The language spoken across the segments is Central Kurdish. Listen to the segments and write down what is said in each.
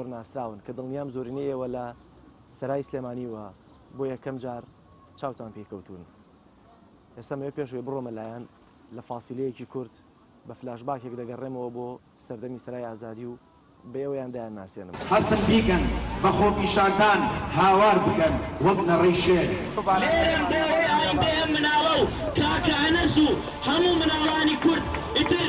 زۆر ناسراون کە دڵنیام زۆرینەی ئێوە لە سەرای سلێمانی و بۆ یەکەم جار چاوتان پێی کەوتوون ئێستا مەوێ پێشوێ بڕۆمە لایەن لە فاسیلەیەکی کورت بە فلاشباکێک دەگەڕێمەوە بۆ سەردەمی سەرای ئازادی و بە ئێوەیان دایان ناسێنم. هەستن بیکەن بە خۆپیشاندان هاوار بکەن وەک نەڕەی شێر. لێرەم دەیەوێ ئەوان بێ ئەم مناڵە و کاکە ئەنەس و هەموو مناڵانی کورد ئیتر.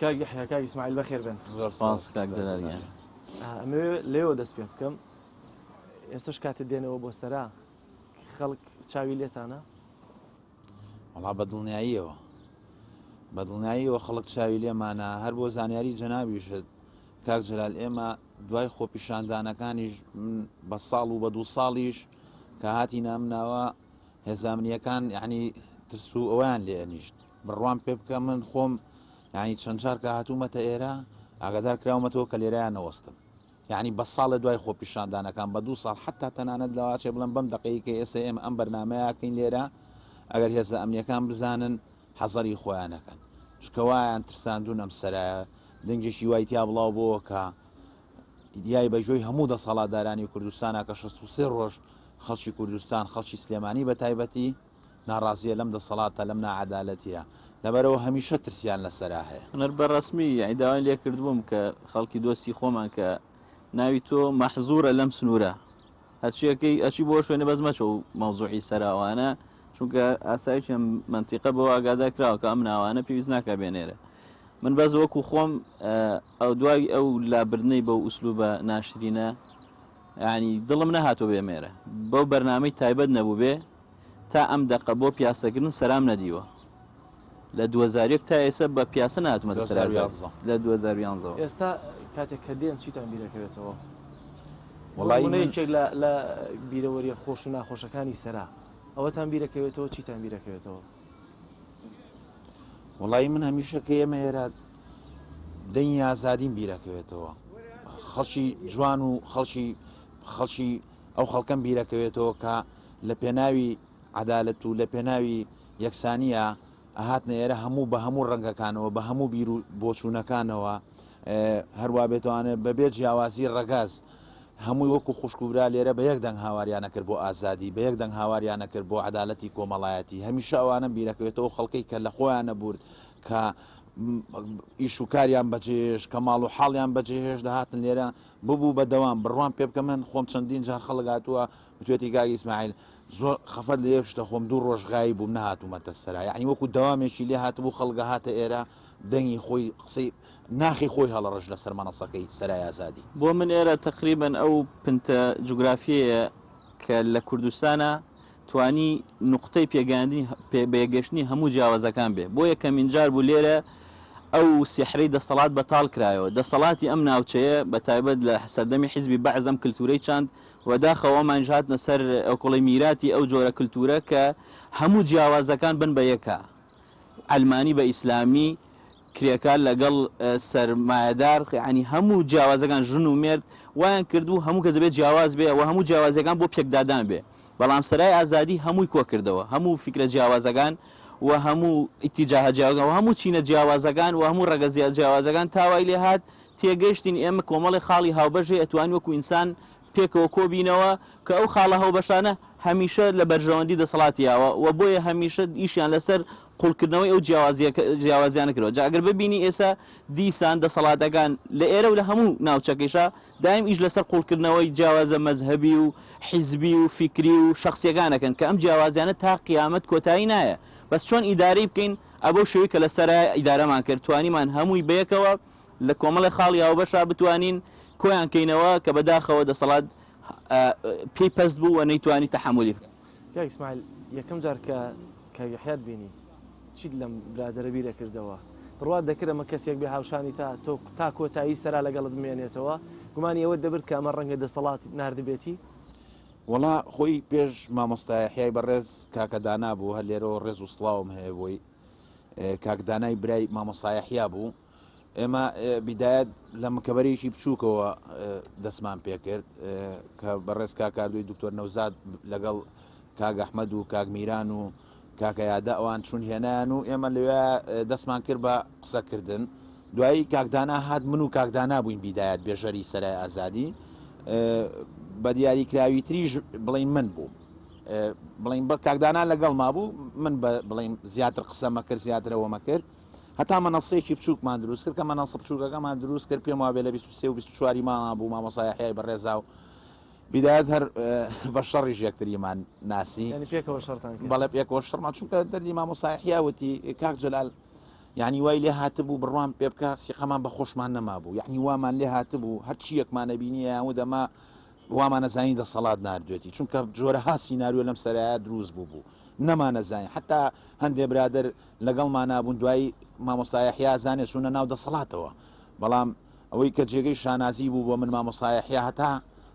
کاک یحیی کاک ئیسماعیل بەخێر بێن زۆر سپاس کاک جەلال گیان ئەمەوێ لێوە دەست پێ بکەم ئێستش کاتێ دێنەوە بۆ سەرا خەڵک چاوی لێتانە وڵا بە دڵنیاییەوە بە دڵنیاییەوە خەڵک چاوی لێمانە هەر بۆ زانیاری جەنابیشت کاک جلال ئێمە دوای خۆپیشاندانەکانیش بە ساڵ و بە دوو ساڵیش کە هاتی نامناوە هێزامنیەکان یعنی ترس و ئەویان لێ ئەنیشت بڕوان پێ بکە من خۆم یعنی چەند چارکە هاتوومەتە ئێرە ئاگادار کراومەتەوە کە لێرایان نەوەستم یعنی بە ساڵە دوای خۆ پیشاندانەکان بە دوو ساڵ حتا تەنانەت لەواچێ بڵم بەم دقەیە کە ئێستا ئێمە ئەم بەرنمەیەکەین لێرە ئەگەر هێزە ئەمنیەکان بزانن حەزەری خۆیانەکەن چکەوایان ترساندون ئەم سەرایە دەنگێکی وای تیا بڵاو بۆەوە کە ئیدیای بەجۆی هەموو دەسەڵاتدارانی کوردستانە کە شەست و سێ ڕۆژ خەڵکی کوردستان، خەڵکی سلێمانی بەتایبەتی ناڕازییە لەم دەسەڵاتە، لەم ناعەدالەتییە، لەبەرئەوە هەمیشە ترسیان لەسەرا هەیە. من بە ڕەسمی یەعنی داوای لێکردبووم کە خەڵکی دۆستی خۆمان کە ناوی تۆ مەحزوورە لەم سنوورە، هەرچی ئەکەی ئەچی بۆ شوێنە بەس مەچۆ و مەوزوعی سەرا وانە چونکە ئاسایشی ئەم مەنتیقە بەوە ئاگادار کراوە کە ئەم ناوانە پێویست ناکا بێنێرە من بەس وەکو خۆم ئەو دوای ئەو لابردنەی بەو ئوسلوبە ناشرینە ینی دڵم نەهاتۆ بێمێرە بەو بەرنامەی تایبەت نەبوو بێ تا ئەم دەقە بۆ پیاسە گرن سەرام نەدیوە لە دوو هەزار و یەک تا ئێسە بە پیاسە ناتمەتە سەر لە دوو هەزار و یانزە ئێستا کاتێک کە دێن چیتان بیرەکەوێتەوە وڵایەکێک لە بیرەوەریە خۆش و ناخۆشەکانی سەرا ئەوەتان بیرەکەوێتەوە چیتان بیرەکەوێتەوە وڵی من هەمیشە کە ئێمە ئێرە دەنگی ئازادین بیرەکەوێتەوە خەڵکی جوان و خەڵکی خەڵکی ئەو خەڵکەم بیرەکەوێتەوە کە لە پێناوی عەدالەت و لە پێناوی یەکسانیە ئەهاتنە ئێرە هەموو بە هەموو ڕەنگەکانەوە بە هەموو بیر و بۆچوونەکانەوە هەروە بێتوانێت بەبێ جیاوازی ڕەگاز هەمووی وەکو خوشکوبرا لێرە بە یەک دەنگ هاواریانە کرد بۆ ئازادی بە یەک دەنگ هاواریانە کرد بۆ عدالەتی کۆمەڵایەتی هەمیشە ئەوانە بیرەکەوێتەوە خەڵکەی کە لە خۆیان نەبورد کە ئیش و کاریان بەجێش کە ماڵ و حاڵیان بەجێهێش دەهاتن لێرە ببوو بەدەوام بڕوان پێ بکە من خۆم چەندین جار خەڵگاتووە وتویەتی کاک ئیسماعیل زۆر خەفەت لە یەک شتە خۆم دوو ڕۆژ غایب بووم نەهاتوومەتە سەرا یەعنی وەکو دەوامێکی لێ هاتبوو خەڵگە هاتە ئێرە دەنگی خۆی قسەی ناخی خۆی هەڵەڕژ لەسەر مەنەسەکەی سەرای ئازادی. بۆ من ئێرە تەقریبەن ئەو پنتە جوگرافیەیە کە لە کوردستانا توانی نوقتەی پێگەیاندنی پێ بەیەکگەشتنی هەموو جیاوازەکان بێ بۆ یەکەمین جار بوو لێرە ئەو سیحرەی دەستەڵات بەتاڵ کرایەوە دەسەڵاتی ئەم ناوچەیە بە تایبەت لە سەردەمی حیزبی بەعس ئەم کلتورەی چاند وە داخەوە ئەمانیش هاتنە سەر ئەوکوڵی میراتی ئەو جۆرە کلتورە کە هەموو جیاوازەکان بن بە یەکا عەلمانی بە ئیسلامی کرێکار لەگەڵ سەرمایەدار یەعنی هەموو جیاوازەکان ژن و مێرد وایان کردبوو هەموو کەس دەبێت جیاواز بێ وە هەموو جیاوازیەکان بۆ پێکدادان بێ بەڵام سەرای ئازادی هەمووی کۆکردەوە هەموو فیکرە جیاوازەکان وە هەموو ئیتیجاهە جیاوازەکان وە هەموو چینە جیاوازەکان وە هەموو ڕەگەزیە جیاوازەکان تاوای لێهات تێگەشتین ئێمە کۆمەڵێ خاڵی هاوبەش هەیە ئەتوانین وەکو ئینسان پێکەوە کۆبینەوە کە ئەو خاڵە هەوبەشانە هەمیشە لە بەرژەوەندی دەسەڵاتی یاوە و بۆیە هەمیشە ئیشیان لەسەر قوڵکردنەوەی ئەو جیاوازیانە کردوە جا ئەگەر ببینی ئێسا دیسان دەسەڵاتەکان لە ئێرە و لە هەموو ناوچەکەیشا دایم ئیش لەسەر قوڵکردنەوەی جیاوازە مەزهەبی و حیزبی و فیکری و شەخسیەکان ئەکەن کە ئەم جیاوازیانە تا قیامەت کۆتایی نایە بەس چۆن ئیدارەی بکەین ئەبەو شێوەی کە لەسەرایە ئیدارەمان کرد توانیمان هەمووی بەیەکەوە لە کۆمەڵێ خاڵی هاوبەشا بتوانین کۆیان کەینەوە کە بەداخەوە دەسەڵات پێی پەست بوو و نەیتوانی تەحەمولی بکە. کاک ئیسماعیل یەکەم جار کە کاک یەحیات بینی چیت لەم برادەرە بیر ئەکردەوە؟ بڕوات دەکرد ئەمە کەسێک بێ هاوشانی تا تۆ تا کۆتایی سەرا لەگەڵت بمێنێتەوە؟ گومانی ئەوەت دەبرد کە ئەمە ڕەنگە دەسەڵات ناردبێتی؟ وەڵا خۆی پێش مامۆستا یەحیای بەڕێز کاکە دانا بوو، هەر لێرەوە ڕێز و سڵاوم هەیە بۆی. کاک دانای برای مامۆستا یەحیا بوو. ئێمە بیدایەت لە مکەبەرێکی بچووکەوە دەستمان پێکرد کە بەڕێز کاکاردوی دکتۆر نەوزاد لەگەڵ کاگەحمەد و کاگمیران و کاکەیادە ئەوان چون هێنان و ئێمە لەوێ دەستمان کرد بە قسەکردن دوایی کاکدانا هات من و کاکدانا بووین بیدایەت بێژەری سەرای ئازادی بە دیاری کراوی تریش بڵین من بوو بڵین بە کاکدانا لەگەڵ ما بوو من بڵین زیاتر قسەمە کرد زیاترەوەمە کرد هەتا مەنەسەیەکی بچووکمان دروست کرد کە مەنەسە بچووکەکەمان دروست کرد پێم وابێ لە 23 و 24 مامان بوو مامۆسای حیای بەڕێزا و بیدایەت هەر بە شەڕیش یەکتریمان ناسی پێکەوە شەرتان بەڵێ پێکەوە شەڕمان چونکە دەردی مامۆسای حیاوتی کاک جلال یعنی وای لێ هاتبوو بڕوان پێ بکە سیقەمان بە خۆشمان نەما بوو یعنی وامان لێ هاتبوو هەرچی یەکمانە بینی یان و دەما وامانەزانی دەسەڵات نردوێتی چونکە جۆرە ها سینناریۆ لەم سەرایە دروست بوو بوو نەمانەزانین حتا هەندێ برادر لەگەڵمانا بوون دوایی مامۆستا یەحیا زانێ چوونە ناو دەسەڵاتەوە بەڵام ئەوەی کە جێگەی شانازی بوو بۆ من مامۆستا یەحیا هەتا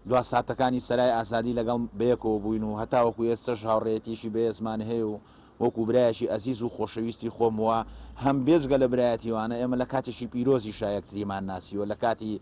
دوا ساتەکانی سەرای ئازادی لەگەڵ بەیەکەوە بووین و هەتاوەکو ئێستەش هاوڕێیەتیشی بەێزمان هەیە و وەکو برایەکی ئەزیز و خۆشەویستی خۆم وە هەم بێجگە لە برایەتیوانە ئێمە لە کاتێکی پیرۆزیشا یەکتریمان ناسیوە لە کاتی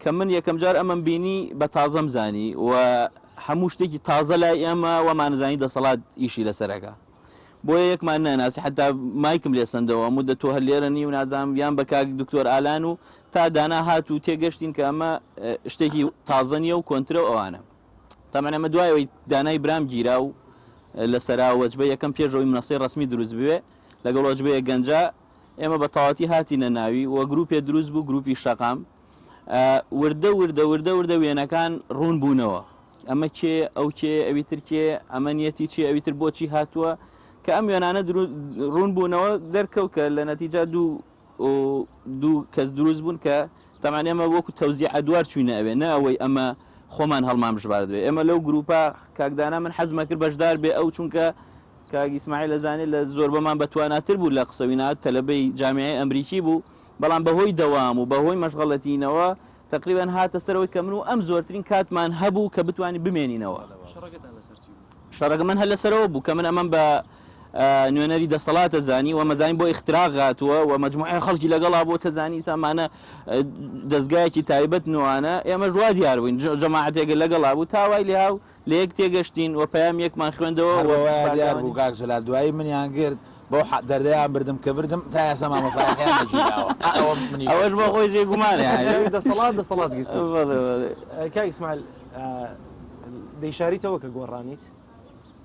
کە من یەکەم جار ئەمەم بینی بە تازەم زانی و هەموو شتێکی تازە لای ئێمە وەمانزانی دەسەڵات ئیشی لەسەرەکە بۆیە یەکمان ناناسی حتا مایکم لێ سندەوە مدە تۆ هەر لێرە نی و نازانم یان بە کاک دکتۆر ئالان و تا دانا هات و تێگەشتین کە ئەمە شتێکی تازە نیە و کۆنترە و ئەوانە تەمەە ئەمە دوایەوەی دانای برام گیرا و لە سەراوەجبە یەکەم پێشەوەی منەسەی ڕسمی دروست بوێ لەگەڵ وەجبەیە گەنجە ئێمە بە تەواتی هاتیینە ناوی و گروپێ دروست بوو گروپی شەقام وردە وردە وردە وردە وێنەکان ڕوون بوونەوە ئەمە کێ ئەو کێ ئەوی تر کێ ئەمە نیەتی چێ ئەوی تر بۆچی هاتووە کە ئەم وێنانە ڕوون بوونەوە دەرکەوت کە لە نەتیجا دوو دوو کەس دروست بوون کە تەمان ئێمە وەکو تەوزی ئەدوار چوینە ئەوێ نە ئەوەی ئەمە خۆمان هەڵمان بژبارد بێ ئێمە لەو گروپە کاکدانا من حەزمە کرد بەشدار بێ ئەو چونکە کاگیسمای لە زانێ لە زۆر بەمان بەتواناتر بوو لە قسەوینا تەلبەی جامیعی ئەمریکی بوو بەڵام بەهۆی دەوام و بەهۆی مەشغەڵەتیینەوە تەقریبەن هاتە سەرەوەی کە من و ئەم زۆرترین کاتمان هەبوو کە بتوانین بمێنینەوە. شەڕەکەتان لەسەر چی بوو؟ شەڕەکە من هەر لەسەرەوە بوو کە من ئەمەم بە نوێنەری دەسەڵاتە زانی و ئەمەزانی بۆ ئیختراق هاتووە و مەجموعەی خەڵکی لەگەڵا بوو تەزانی سامانە دەزگایەکی تایبەت نوانە ئێمەش وا دیار بووین جەماعەتێک لەگەڵا بوو تا وای لێهاو لەیەک تێگەشتین و پەیامیەکمان خوێندەوە و بەوەیاندیاربوو کاک جەلال دوایی منیان گرت بەو دەردەیان بردم کە بردم تا ئێستا مامۆستایەکەیان نەگیراوە ئەوەش بۆ خۆی جێی گومانە دەسەڵات دەسەڵات گرت کاک ئیسماعیل دەیشاریتەوە کە گۆڕانیت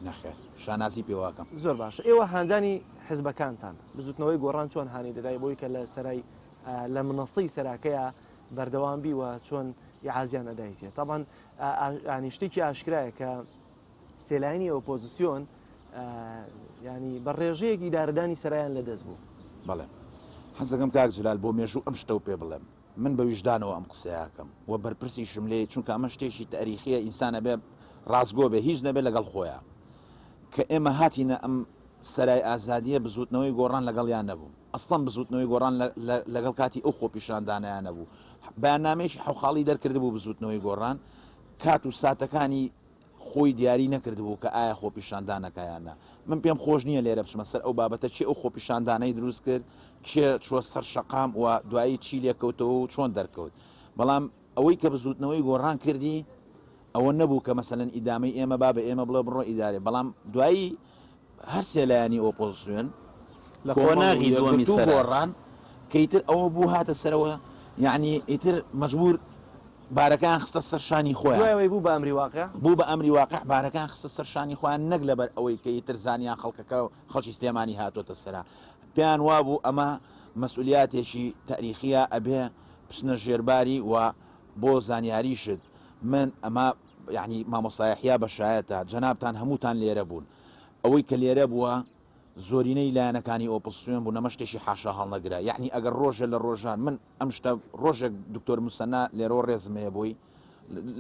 نەخێر شانازی پێواکەم زۆر باشە ئێوە هاندانی حزبەکانتان بزوتنەوەی گۆڕان چۆن هاانی دەدای بۆی کە لە سەرای لە منەستی سەراکەیە بەردەوام بی و چۆن یعازیان ئەدایتێ تاوان یانی شتێکی ئاشکرایە کە سێلاینی ئۆپۆزیسیۆن ینی بە ڕێژەیەک ئیداردانی سەرایان لە دەست بوو بەڵێ حەزەکەم کاک جلال بۆ مێژوو ئەم شتە و پێ بڵێم من بە ویژدانەوە ئەم قسەیەکەم و بەرپرسی شملێ چونکە ئەمە شتێکی تاریخیە ئینسانە بێ ڕاستگۆ بێ هیچ نەبێت لەگەڵ خۆیان کە ئێمە هاتینە ئەم سەرای ئازادیە بزوتنەوەی گۆڕان لەگەڵیان نەبوو ئەسڵەن بزووتنەوەی گۆڕان لەگەڵ کاتی ئەو خۆپیشاندانەیان نەبوو. بەیاننامەیەکی حەوخاڵی دەرکردبوو بزووتنەوەی گۆڕان کات و ساتەکانی خۆی دیاری نەکردبوو کە ئایا خۆپیشاندانەکە یان نا. من پێم خۆش نییە لێرە بچمە سەر ئەو بابەتە کێ ئەو خۆپیشاندانەی دروست کرد، کێ چووە سەر شەقام و دوایی چی لێکەوتەوە و چۆن دەرکەوت. بەڵام. ئەوەی کە بزوتنەوەی گۆڕان کردی ئەوە نەبوو کە مەسەلەن ئیدامەی ئێمە با بە ئێمە بڵێ بڕۆ ئیدارەی بەڵام دوایی هەر سێ لایەنی ئۆپۆزسیۆن لە قۆناغی دووەمی سەر گۆڕان کە ئیتر ئەوە بوو هاتە سەرەوە یعنی ئیتر مەجبور بارەکان خستە سەر شانی خۆیان بوو بە ئەمری واقع بوو بە ئەمری واقع بارەکان خستە سەر شانی خۆیان نەک لەبەر ئەوەی کە ئیتر زانیان خەڵکەکە و خەڵکی سلێمانی هاتۆتە سەرا پێیان وابوو ئەمە مەسئولیاتێکی تاریخیە ئەبێ بچنە ژێر باری وە بۆ زانیاریشت من ئەمە یەعنی مامۆستا یەحیا بەشایەتە جەنابتان هەمووتان لێرە بوون ئەوەی کە لێرە بووە زۆرینەی لایەنەکانی ئۆپسیۆن بوون ئەمە شتێکی حاشا هەڵنەگرە یەعنی ئەگەر ڕۆژێ لە ڕۆژان من ئەم شتە ڕۆژێک دکتۆر موسەنا لێرەوە ڕێزم هەیە بۆی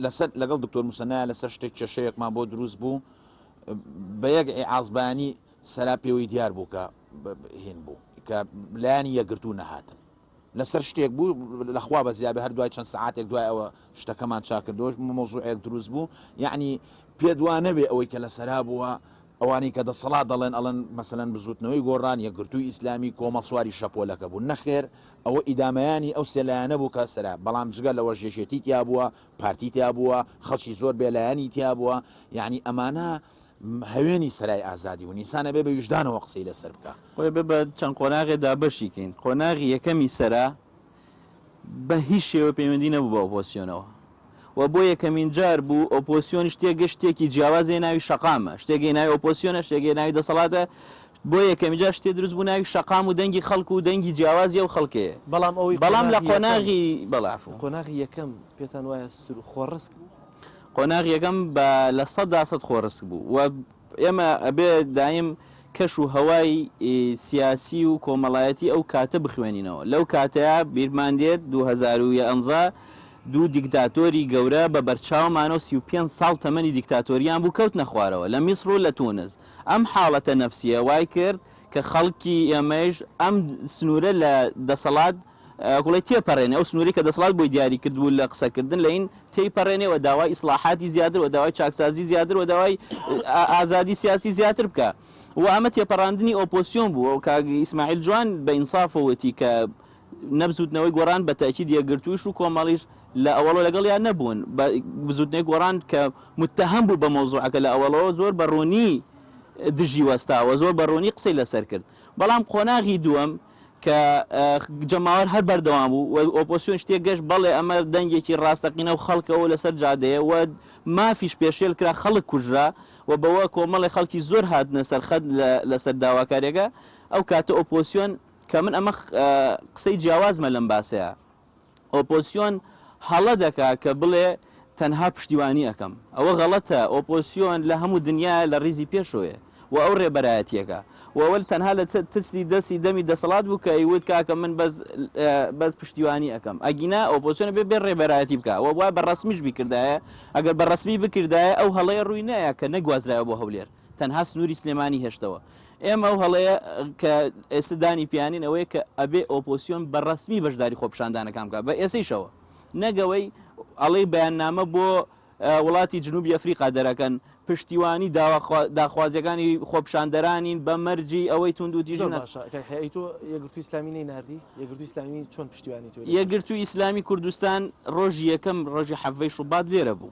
لەسەر لەگەڵ دکتۆر موسەنایە لەسەر شتێک کێشەیەکمان بۆ دروست بوو بە یەک ئیعازبانی سەرا پێوەی دیار بوو کە هێن بوو کە لایانی یەکگرتوو نەهاتن لەسەر شتێک بوو لە خوا بەزیابێ هەر دوای چەند سەعاتێک دوای ئەوە شتەکەمان چاک کردەوە مەوزوعێک دروست بوو یەعنی پێت وا نەبێ ئەوەی کە لەسەرا بووە ئەوانەی کە دەسەڵات دەڵێن ئەڵێن مەسەلەن بزووتنەوەی گۆڕان یەکگرتووی ئیسلامی کۆمەڵ سواری شەپۆلەکە بوو نەخێر ئەوە ئیدامەیانی ئەو سێ لایەنە بوو کە سەرا بەڵام جگە لەوەش یەکێتی تیا بووە پارتی تیا بووە خەڵکی زۆر بێلایەنی تیا بووە یەعنی ئەمانە هەوێنی سەرای ئازادی و نیسان ئەبێ بە ویژدانەوە قسەی لەسەر بکا خۆی بە چەند قۆناغێ دابەشی کەین قۆناغی یەکەمی سەرا بە هیچ شێوە پەیوەندی نەبوو بە ئۆپۆسیۆنەوە و بۆ یەکەمین جار بوو ئۆپۆسیۆن شتێکگە شتێکی جیاوازێ ناوی شەقامە شتێکی ناوی ئۆپۆسیۆنە شتێکی ناوی دەسەڵاتە بۆ یەکەمی جار شتێ دروست بوو ناوی شەقام و دەنگی خەڵک و دەنگی جیاوازی و خەڵکێ بەڵام ئەوی بەڵام لە قۆناغی بەڵاف و قۆناغی یەکەم پێتان وایە سر و خۆڕسک بوو قۆناغ یەکەم بە لە سەدا سەد خۆڕسک بوو و ئێمە ئەبێ دایم کەش و هەوای سیاسی و کۆمەڵایەتی ئەو کاتە بخوێنینەوە. لەو کاتەیا بیرمان دێت دوو هەزار و یانزە دوو دیکتاتۆری گەورە بە بەرچاومانە و سی و پێنج ساڵ تەمەنی دیکتاتۆریان بوو کەوتنە خوارەوە لە میسڕ و لە تونس. ئەم حاڵەتە نەفسیە وای کرد کە خەڵکی ئێمەیش ئەم سنوورە لە دەسەڵات گوڵێ تێپەرێنێ، ئەو سنوورەی کە دەسەڵات بۆی دیاری کردبوو لە قسەکردن لەین تێیپەرێنێ و داوای ئیسڵاحاتی زیاتر و داوای چاکسازی زیاتر و داوای ئازادی سیاسی زیاتر بکا و ئەمە تێپەڕاندنی ئۆپۆسیۆن بوو و کاک ئیسماعیل جوان بە ئینساف وتی کە نە بزووتنەوەی گۆڕان بە تەئکید یەکگرتوویش و کۆمەڵیش لە ئەوەڵۆ لەگەڵیان نەبوون بە بزووتنەوەی گۆڕان کە متتەهەم بوو بە مەوزووعەکە لە ئەوەڵەوە زۆر بە ڕوونی دژی وەستا و زۆر بە ڕوونی قسەی لەسەر کرد بەڵام قۆناغی دووەم کە جەماوەر هەر بەردەوام بوو و ئۆپۆسیۆن شتێک گەشت بەڵێ ئەمە دەنگێکی ڕاستەقینە و خەڵکە و لەسەر جادەیە و مافیش پێشێل کرا خەڵک کوژرا و بەوە کۆمەڵێ خەڵکی زۆر هاتنە سەر خەت لەسەر داواکاریەکە ئەو کاتە ئۆپۆسیۆن کە من ئەمە قسەی جیاوازمە لەم باسەیە. ئۆپۆسیۆن هەڵە دەکا کە بڵێ تەنها پشتیوانی ئەکەم ئەوە غەڵەتە ئۆپۆسیۆن لە هەموو دنیایە لە ڕیزی پێشۆیە و ئەو ڕێبەرایەتیەکە و ئەوە تەنها لە ترسی دەسی دەمی دەسەڵات بوو کە ئەیوت کاکە من بەس بەس پشتیوانی ئەکەم ئەگینا ئۆپۆسیۆن بێ بێ ڕێبەرایەتی بکا و وای بە ڕەسمیش بیکردایە ئەگەر بە ڕەسمی بکردایە ئەو هەڵەیە ڕووی نەیە کە نەگوازرایە بۆ هەولێر تەنها سنوری سلێمانی هێشتەوە ئێمە ئەو هەڵەیە کە ئێستا دانی پیانین ئەوەیە کە ئەبێ ئۆپۆسیۆن بە ڕسمی بەشداری خۆپشاندانەکان بکە بە ئێسیشەوە نەگەوەی ئەڵەی بەیاننامە بۆ وڵاتی جنوبی ئەفریقا دەرەکەن پشتیوانی داخوازیەکانی خۆپشاندەرانین بە مەرجی ئەوەی تونند و دیژ یەگرتو ئسلامی نەیناردی یەگرتو ئسلامی چۆن پشتیوانی یەگرتو ئیسلامی کوردستان ڕۆژی یەکەم ڕۆژی حەڤەی شوبات لێرە بوو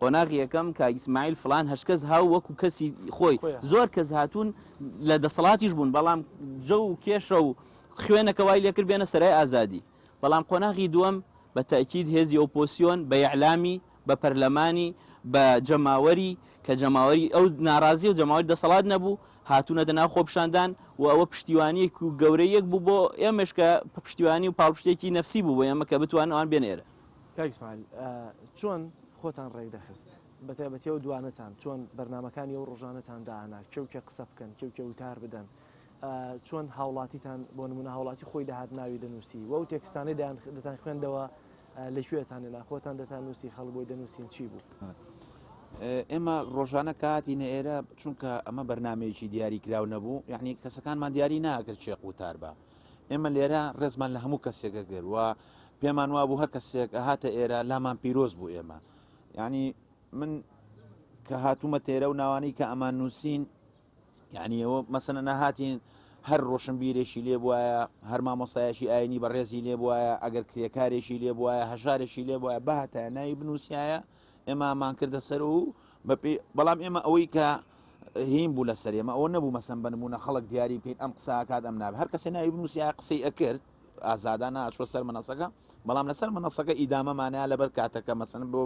قۆناغی یەکەم کاک ئیسماعیل فڵان هەشت کەس هاو وەکو کەسی خۆی زۆر کەس هاتوون لە دەسەڵاتیش بوون بەڵام جە و کێشە و خوێنەکە وای لێکرد بێنە سەرای ئازادی بەڵام قۆناغی دووەم بە تاکیید هێزی ئۆپۆسیۆن بە یەعلامی بە پەرلەمانی بە جەماوەری کە جەماوەری ئەو ناڕازی و جەماوەری دەسەڵات نەبوو هاتوونەتە ناو خۆپشاندان و ئەوە پشتیوانیەک و گەورەیەک بوو بۆ ئێمەش کە پشتیوانی و پاڵپشتێکی نەفسی بوو بۆ ئێمە کە بتوان ئەوان بێنێرە کاک ئیسماعیل چۆن خۆتان ڕێک دەخست بە تایبەتی ئەو دوانەتان چۆن بەرنمەکانی ئەو ڕۆژانەتان دانا کێوکێ قسە بکەن کێوکێ وتار بدەن چۆن هاوڵاتیتان بۆ نمونە هاوڵاتی خۆی داهات ناوی دەنووسی وەو تێکستانی دەتان خوێندەوە لەکوێتان لە خۆتان دەتان نووسی خەڵ بۆی دەنووسین چی بوو ئێمە ڕۆژانە کاتی نەێرە چونکە ئەمە بەرنمەیەکی دیاری کراو نەبوو یعنی کەسەکانمان دیاری ناکرد چێق وتار بە ئێمە لێرە ڕێزمان لە هەموو کەسێکە گەر و پێمان وابوو هەر کەسێک هاتە ئێرە لامان پیرۆز بوو ئێمە یعنی من کە هاتوومە تێرە و ناوانەی کە ئەمان نووسین یعنی ئەوە مەسەنە نەهاتین هەر ڕۆشنبیرێکی لێ بواە هەر مامۆستایشی ئاینی بە ڕێزی لێ بواە ئەگەر کرێکارێکی لێ بواە هەژارێکی لێ بواە بەهتە ناوی بنووسایە ئێمە مان کردە سەر و بەپی بەڵام ئێمە ئەوەی کە هیم بوو لە سەر ئێمە ئەوە نەبوو مەسم بنمونە خەڵک دیاری بکەین ئەم قسا کات ئەم ناب هەر کەسێ ناوی بنووسیا قسەی ئەکرد ئازادا ناچوە سەر منەسەکە بەڵام لەسەر منەسەکە ئیدامەمانە لەبەر کاتەکە مەسن بۆ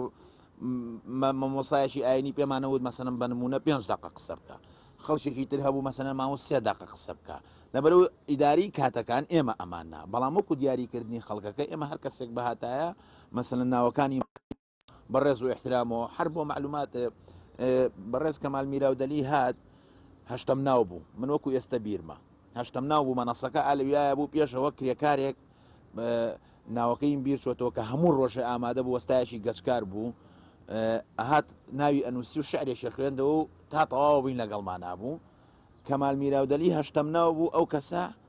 مەمۆسایشی ئاینی پێمانەوت مەسەنم بە نمونە پێنج دقە قسە بکە خەڵکێکی تر هەبوو مەسەنە ماوە سێ دقە قسە بکە لەبەرو ئیداری کاتەکان ئێمە ئەماننا بەڵام وەکو دیاریکردنی خەڵکەکە ئێمە هەر کەسێک بەهاتایە مەسەلەن ناوەکانی بەڕێز و ئحترامەوە هەر بۆ معلومات بەڕێز کەمال میراودەلی هات هەشتم ناو بوو من وەکو ئێستا بیرمە هەشتم ناو بوو مەنەسەکە ئالویایە بوو پێشەوە کرێکارێک ناوەکەیم بیر چۆتەوە کە هەموو ڕۆژێ ئامادە بوو وەستایشی گەچکار بوو ئەهات ناوی ئەنووسی و شعرێکی خوێندەوە و تا تەواوە بووین لەگەڵمان نبوو کەمال میراودەلی هەشتم ناو بوو ئەو کەسە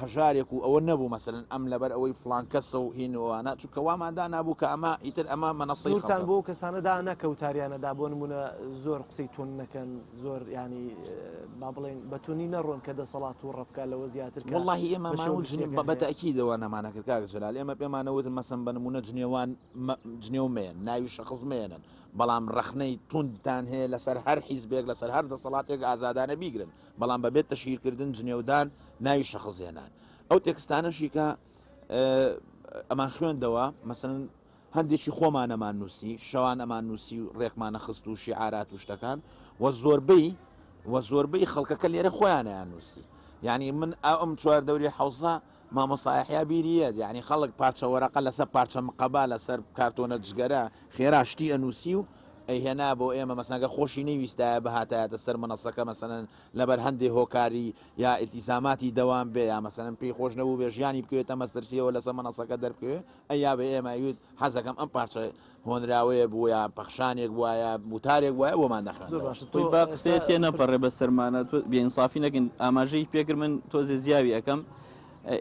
هەژارێک و ئەوە نەبوو مەسەلەن ئەم لەبەر ئەوەی فڵان کەسە و هین و ئەوانە چونکە وامان دانابوو کە ئەمە ئیتر ئەمە مەنەسەی خەڵکە. سنوورتان بۆ ئەو کەسانە دانا کە وتاریانە دا بۆ نموونە زۆر قسەی توند نەکەن زۆر یانی با بڵێین بە توندی نەڕۆن کە دەسەڵات تووڕە بکات لەوە زیاتر کە وەڵڵاهی ئێمە بە شێوە ماموو جنێو گشتیەکە بە هەیە. بەتەئکیدەوە نەمانە کرد کاک جەلال ئێمە پێمانە وتن مەسەن بە نموونە جنێوان مە جنێو مەیەن ناوی شەخس مەیەنن بەڵام ڕەخنەی توندتان هەیە لەسەر هەر حیزبێک لەسەر هەر دەسەڵاتێک ئازادانە بیگرن بەڵام بەبێ تەشهیر کردن جنێودان ناوی شەخس هێنان ئەو تێکستانەشی کە ئەمان خوێندەوە مەسن هەندێکی خۆمان ئەمان نووسی شەوان ئەمان نووسی و ڕێکمانە خست و شیعارات و شتەکان و زۆربەی و زۆربەی خەڵکەکە لێرە خۆیانیان نووسی یعنی من ئەم چوار دەوری حوزە مامۆستا یەحیا بیری یەت یەعنی خەڵک پارچە وەرەقە لەسەر پارچە مقەبا لەسەر کارتۆنە دژگەرە خێرا شتی ئەنووسی و ئەیهێنا بۆ ئێمە مەسەن گەر خۆشی نەیویستایە بهاتایەتە سەر مەنەسەکە مەسەلەن لەبەر هەندێ هۆکاری یا ئیلتیزاماتی دەوام بێ یا مەسەلەن پێی خۆش نەبووبێ ژیانی بکەوێتە مەسترسییەوە لەسەر مەنەسەکە دەربکەوێ ئەیابێ ئێمە ئەیوت حەزەکەم ئەم پارچە هۆنراوەیەک بووایە، پەخشانێک بووایە، وتارێک بووایە بۆمان دەخوێندەوە. تۆ با قسەیە تێ نەپەڕێ بە سەرمانا، تۆ بێ ئینسافی نەکەین، ئاماژەی پێ کرد من تۆزێ زیاوی ئەکەم،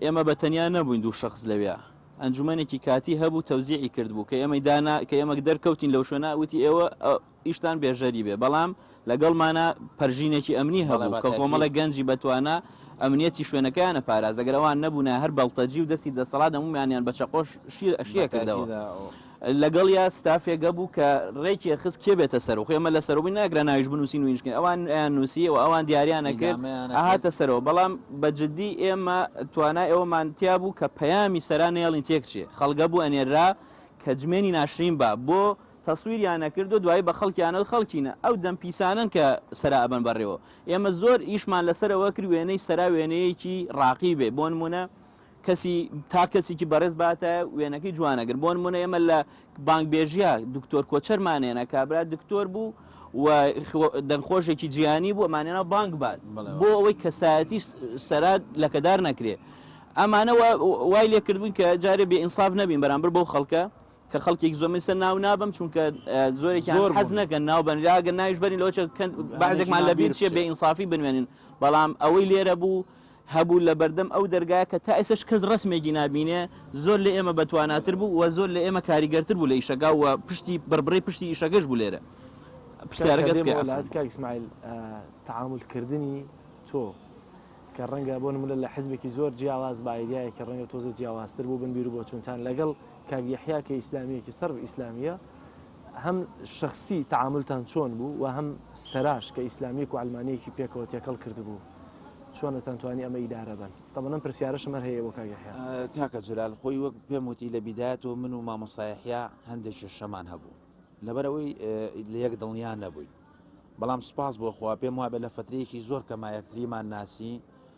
ئێمە بە تەنیا نەبووین دوو شەخس لەوێ، ئەنجومەنێکی کاتی هەبوو تەوزیعی کردبوو کە ئێمەی دانا کە ئێمە دەرکەوتین لەو شوێنە وتی ئێوە ئیشتان بێژەری بێ بەڵام لەگەڵمانە پەرژینێکی ئەمنی هەبوو کە کۆمەڵە گەنجی بەتوانە ئەمنیەتی شوێنەکەیانە پاراز ئەگەر ئەوان نەبووە هەر بەڵتەجی و دەستی دەسەڵات دەمومیانیان بە چەقۆش شیەکردەوە لەگەڵ یا ستافێگە بوو کە ڕێکی خست کێ بێتە سەرو خێمە لە سەرەوەی ناگرە ناویش بنووسی نوینشکن ئەوان نووسی و ئەوان دیاریانە کرد هاتە سەرەوە بەڵام بە جددی ئێمە توانای ئەوەمان تیا بوو کە پەیامی سەرانێڵین تێکچێ خەڵگە بوو ئەنێرا کە جمێنی ناشرین بە بۆ تەسویریان ئەکرد و دوایی بەخەڵکیانەوت خەڵکینە ئەو دەم پیسانەن کە سەرا ئەبەن بەڕێوە ئێمە زۆر ئیشمان لەسەر ئەوە کرد وێنەی سەرا وێنەیەکی ڕاقی بێ بۆنمونە کەسی تا کەسیکی بەڕێز باتایە وێنەکەی جوانەگر بۆنمونە ئێمە لە بانگ بێژیا دکتۆر کۆچەرمانێنە کابرا دکتۆر بوو و دەنگخۆشێکی جیانی بوو ئەمانێنا بانگ بات بۆ ئەوەی کەسایەتی سەرات لەکەدار نەکرێ ئەمانەوە وای لێکردبوون کە جارێ بێئینساف نەبین بەرامبەر بەو خەڵکە کە خەڵکێک زۆر من سەر ناو نابەم چونکە زۆرێکیان زۆر حەز نەکەن ناو بن یا گەر ناویش بەرین لەوە چ کەن بەعزێکمان لە بیر چیە بێ ئینصافی بنوێنن بەڵام ئەوەی لێرە بوو هەبوو لە بەردەم ئەو دەرگایە کە تا ئێسش کەس ڕسمێکی نبینێ زۆر لە ئێمە بەتواناتر بوو و زۆر لە ئێمە کاریگەرتر بوو لە ئیشەکە و پشتی بڕبڕی پشتی ئیشەکەش بوو لێرە پرسیارەکەت کە کە لات کاک ئیسماعیل آه، تعامل کردنی تۆ کە ڕەنگە بۆ نمونە لە حزبێکی زۆر جیاواز بە ئایدیایەکی ڕەنگە تۆزێ جیاوازتر بوو بن بیر و بۆچوونتان لەگەڵ کاک یەحیا کە ئیسلامیەکی سەرف ئیسلامیە هەم شخصی تعاملتان چۆن بوو و هەم سەراش کە ئیسلامیەک و علمانەیەکی پێکەوە تێکەڵ کردبوو چۆنتان توانی ئەمە ئیدارە بن تەبەنم پرسیارش مەر هەیە بۆ کاک یەحیا کاکە جلال خۆی وەک پێم وتی لە بیدایەتەوە من و مامۆسایحیا هەندێک کێشەمان هەبوو لەبەرەوەی لە یەک دڵنیا نەبووین بەڵام سپاس بۆ خوا پێم وابێ لە فترەیەکی زۆر کەمایەکتریمان ناسی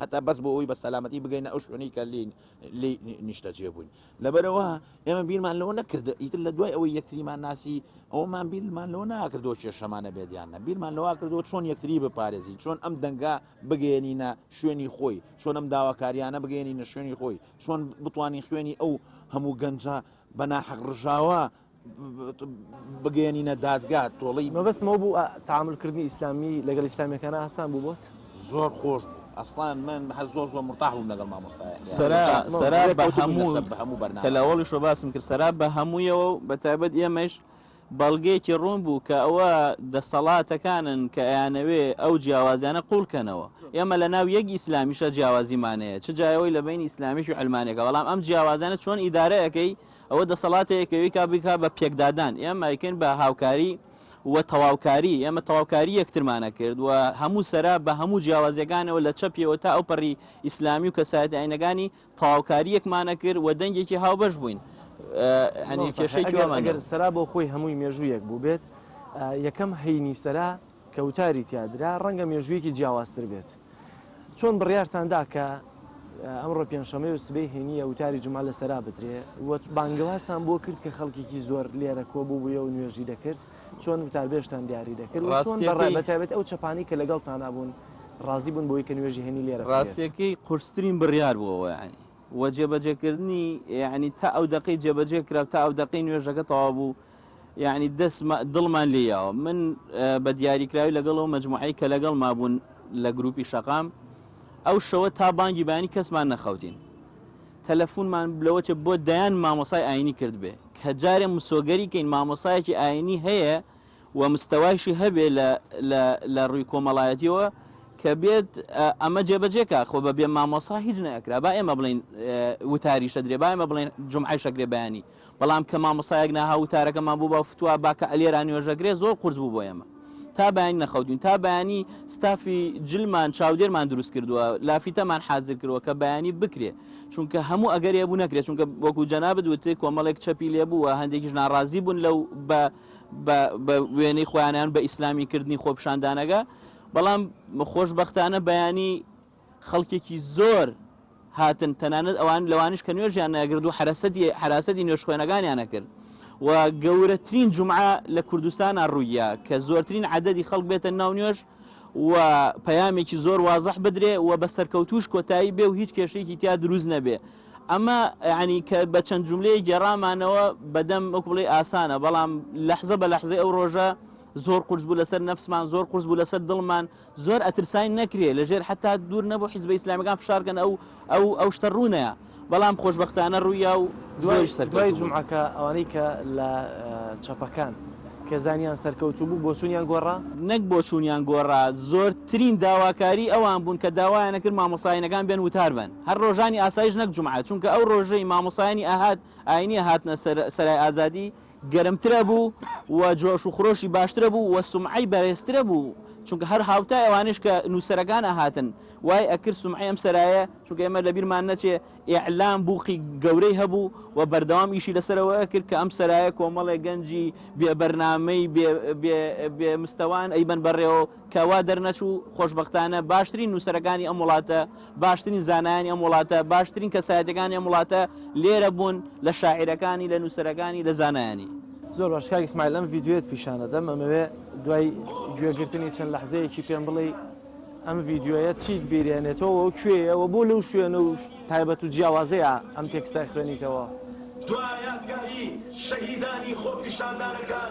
هەتا بەس بۆ ئەوی بە سەلامەتی بگەینە ئەو شوێنەی کە لێ لێ نیشتەجێ بووین لەبەرەوە ئێمە بیرمان لەوە نەکردە ئیتر لە دوای ئەوەی یەکتریمان ناسی ئەومان بیرمان لەوە ناکردەوە کێشەمانە بێدیان نە بیرمان لەوا کردەوە چۆن یەکتری بپارێزی چۆن ئەم دەنگا بگەێنینە شوێنی خۆی چۆن ئەم داواکاریانە بگەێنینە شوێنی خۆی چۆن بتانی خوێنی ئەو هەموو گەنجە بەناحەق ڕژاوە بگەیەنینە دادگا تۆڵی مەبەستمەوە بوو تاملکردنی ئیسلامی لەگەڵ ئیسلامیەکان ئاسان بوو بۆت زۆر خۆش بوو ئەسڵان من هەر زۆر زۆر مرتاح بووم لەگەڵ مامۆستایە هەموو بەرنا لەوەڵی شۆ باسم کرد سەرا بە هەموویەوە بە تایبەت ئێمەش بەڵگەیەکی ڕوون بوو کە ئەوە دەسەڵاتەکانن کە ئەیانەوێ ئەو جیاوازیانە قوڵکەنەوە ئێمە لە ناو یەک ئیسلامیشە جیاوازیمانەیە چ جایەوەی لە بین ئیسلامیش و ئەلمانەکە بەڵام ئەم جیاوازانە چۆن ئیدارەکەی ئەوە دەسەڵاتەیە کە ئەویکا بیکا بە پێکدادان، ئێمە ئەیکەین بە هاوکاری و تەواوکاری، ئێمە تەواوکاری یەکترمان ئەکرد و هەموو سەرا بە هەموو جیاوازیەکانەوە لە چەپیەوە تا ئەوپەڕی ئیسلامی و کەسایەتە ئاینەکانی تەواوکاری یەکمان ئەکرد و دەنگێکی هاوبەش بووین. هەنێ کێشەیەکی وامان نەبوو. ئەگەر سەرا بۆ خۆی هەمووی مێژوو یەک بووبێت، یەکەم هەینی سەرا کە وتاری تیا درا ڕەنگە مێژوویەکی جیاوازتر بێت. چۆن بڕیارتان دا کە ئەمڕۆ پێنجشەمەیە و سبەی هەینییە وتاری جومعە لە سەرا بدرێ و بانگەوازتان بۆ کرد کە خەڵکێکی زۆر لێرە کۆ بووبوویە و نوێژی دەکرد، چۆن وتاربێژتان دیاری دەکرد و چۆن بە ڕای بە تایبەت ئەو چەپانەی کە لەگەڵتانا بوون ڕازی بوون بەوەی کە نوێژی هەینی لێرە بکرێت؟ ڕاستییەکەی قورسترین بڕیار بوو ئەوە یانی و جێبەجێکردنی یانی تا ئەو دەقەی جێبەجێ کرا و تا ئەو دەقەی نوێژەکە تەواو بوو، یەعنی دەست دڵمان لێ یاوە من بە دیاریکراوی لەگەڵ ئەو مجموعەی کە لەگەڵ مابوون لە گروپی شەقام ئەو شەوە تا بانگی بانی کەسمان نەخەوتین تەلەفونمان بلەوەچە بۆ دەیان مامۆسای ئاینی کرد بێ کە جارێ مسۆگەری کەین مامۆسایەکی ئاینی هەیە و مستەوایشی هەبێ لە ڕووی کۆمەڵایەتیەوە کە بێت ئەمە جێبەجێکە خۆ بە بێ مامۆسا هیچ نەکرا با ئێمە بڵین وتاریشە درێ با ئێمە بڵێن جمعای شەکرێ بەیانی بەڵام کە مامۆستایەک ناهاو وتارەکەمان بۆ باو فتوا با کە ئەلێرا نوێژەگرێ زۆر قورس بوو بۆ ئێمە تا بەیانی نەخەوتین تا بەیانی ستافی جلمان چاودێرمان دروست کردووە لافیتەمان حازر کردووە کە بەیانی بکرێ چونکە هەموو ئەگەر هەبوو نەکرێت چونکە وەکو جەنابت وتێ کۆمەڵێک چەپی لێ بووە هەندێکیش ناڕازی بوون لەو بە بە وێنەی خۆیانیان بە ئیسلامی کردنی خۆپشاندانەکە بەڵام خۆشببختانە بەیانی خەڵکێکی زۆر هاتن تەنانەت ئەوان لەوانیش کە نوێژیان نەگرد و حرەسەتی حراسەتی نوێژخوێنەکانیان نەکرد و گەورەترین جمعە لە کوردستان ڕوویە کە زۆرترین عددی خەڵک بێتە ناو نوێژ و پەیامێکی زۆر وازح بدرێ و بە سەرکەوتوش کۆتایی بێ و هیچ کێشێکی تیا دروست نەبێ ئەمە ینی کە بە چەند جملەیە گێڕامانەوە بەدەم وەکوڵی ئاسانە بەڵام لەحزە بە لەحزەی ئەو ڕۆژە زۆر قرس بوو لەسەر نەفسمان زۆر قرس بوو لەسەر دڵمان زۆر ئەترساین نەکرێ لەژێر حەتا دوور نەبوو حیزبە ئیسلامیەکان فشار کەن ئەو ئەو ئەو شتە ڕوونەیە بەڵام خۆشبەختانە ڕوویا و دوای سەر دوای جمعەکە ئەوانەی کە لە چەپەکان کە زانیان سەرکەوتوو بوو بۆچونیان گۆڕا نەک بۆچونیان گۆڕا زۆرترین داواکاری ئەوان بوون کە داوایانە کرد مامۆساینەکان بێن وتار بن هەر ڕۆژانی ئاسایش نەک جمعە چونکە ئەو ڕۆژەی مامۆسایانی ئەهات ئاینی هاتنە سەرای ئازادی گەرمترەبوو و جۆش و خرۆشی باشترەبوو و سومعەی بەرێزترەبوو چونکە هەر هاوتای ئەوانەیش کە نووسەرەکان ئەهاتن وای ئەکرد سومعەی ئەم سەرایە چونکە ئێمە لەبیرمان نەچێ ئیعلام بووقی گەورەی هەبوو و بەردەوام ئیشی لەسەرەوە ئەکرد کە ئەم سەرایە کۆمەڵێ گەنجی بێ بەرنامەی بێ مستەوان ئەیبەن بەڕێوە کە وا دەرنەچوو خۆشبەختانە باشترین نووسەرەکانی ئەم وڵاتە باشترین زانایانی ئەم وڵاتە باشترین کەسایەتەکانی ئەم وڵاتە لێرە بوون لە شاعیرەکانی لە نووسەرەکانی لە زانایانی زۆر باش کاک ئیسماعیل ئەم ڤیدیۆیەت پیشانەدەم ئەمەوێ دوای گوێگرتنی چەند لەحزەیەکی پێم بڵێ ئەم ڤیدیۆیە چیت بیرێنێتەوە و کوێیەوە بۆ لەو شوێن و تایبەت و جیاوازەیە ئەم تێکستای خوێنیتەوە دوا یادگاری شەهیدانی خۆپیشاندانەکان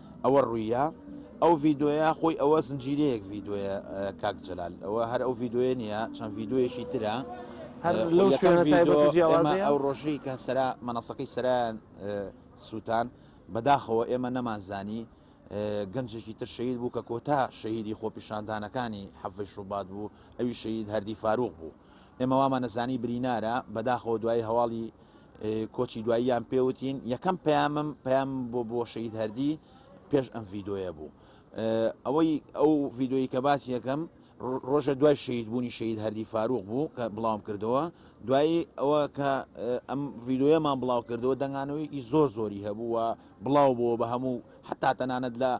ئەوە ڕویە ئەو ڤیدۆیە خۆی ئەوە زنجیرەیەک ڤیدۆیە کاک جەلال ئەوە هەر ئەو ڤیدۆیە نییە چەند ڤیدۆیەشی ترە هەر لەو شوێنە تایبەت جیاوازە ئەو ڕۆژەی کە سەرا مەنەسەکەی سەران سووتان بەداخەوە ئێمە نەمانزانی گەنجێکی تر شەید بوو کە کۆتا شەیدی خۆپیشاندانەکانی حەفش ڕووبات بوو ئەوی شەید هەردی فاروق بوو ئێمە وامان زانی برینارە بەداخەوە دوایی هەواڵی کۆچی دواییان پێوتین یەکەم پەیامم پەیام بۆ بۆ شەید هەردی پێش ئەم ڤیددیوە بوو ئەوەی ئەو ڤیددیوی کە باسی یەکەم ڕۆژە دوای شەید بوونی شەید هەردی فاروق بوو کە بڵاوم کردەوە دوایی ئەوە کە ئەم ڤیددیوەمان بڵاو کردەوە دەنگانەوەیەکی زۆر زۆری هەبوو و بڵاو بووە بە هەموو حتا تەنانەت لە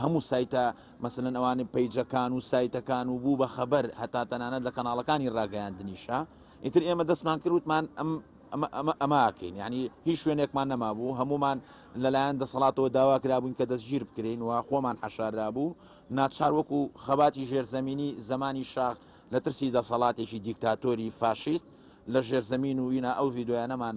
هەموو سایتە مەسەلەن ئەوانەی پەیجەکان و سایتەکان و بوو بە خەبەر هەتا تەنانەت لە کەناڵەکانی ڕاگەیاندنیشە ئیتر ئێمە دەستمان کردوتمان ئەم ئەماکەین ینی هیچ شوێنێکمان نەمابوو هەمومان لەلایەن دەسەڵاتەوە داوا کرابووین کە دەستگیر بکرین و خۆمان حەشاررا بوو ناچار وەکو خەباتی ژێرزەمینی زمانی شاخ لە ترسی دەسەڵاتێکی دیکتاتۆری فاشیست لە ژێرزەمین و ینا ئەو ڤیددیویانەمان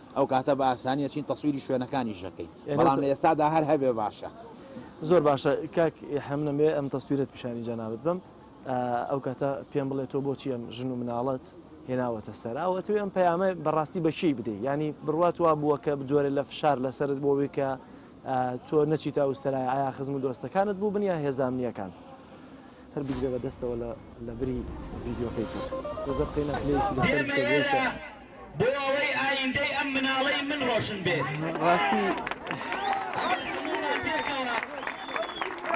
ئەو کاتە بە ئاسانی ئەچین تەسویری شوێنەکانیش ئەکەین بەڵام لە ئێستادا هەر هەبێ باشە. زۆر باشە کاک ئیلهام نەموێ ئەم تەسویرەت پیشانی جەنابت بەم ئەو کاتە پێم بڵێ تۆ بۆچی ئەم ژن و مناڵت هێناوەتە سەر ئەو ئەتوێ ئەم پەیامە بەڕاستی بە کێی بدەی ینی بڕوات وا بووە کە بجۆرە لە فشار لەسرت بۆ وێ کە تۆ نەچیت تا وسەرای ئایا خزم و دۆستەکانت بوو بنیا هێزامنیەکان هەر بگرێ بە دەستەوە لە لەبری ڤیددیوکەی تر زەقینە بۆ ئەوەی ئایندەی ئەم مناڵەی من ڕۆشن بێت ڕاستی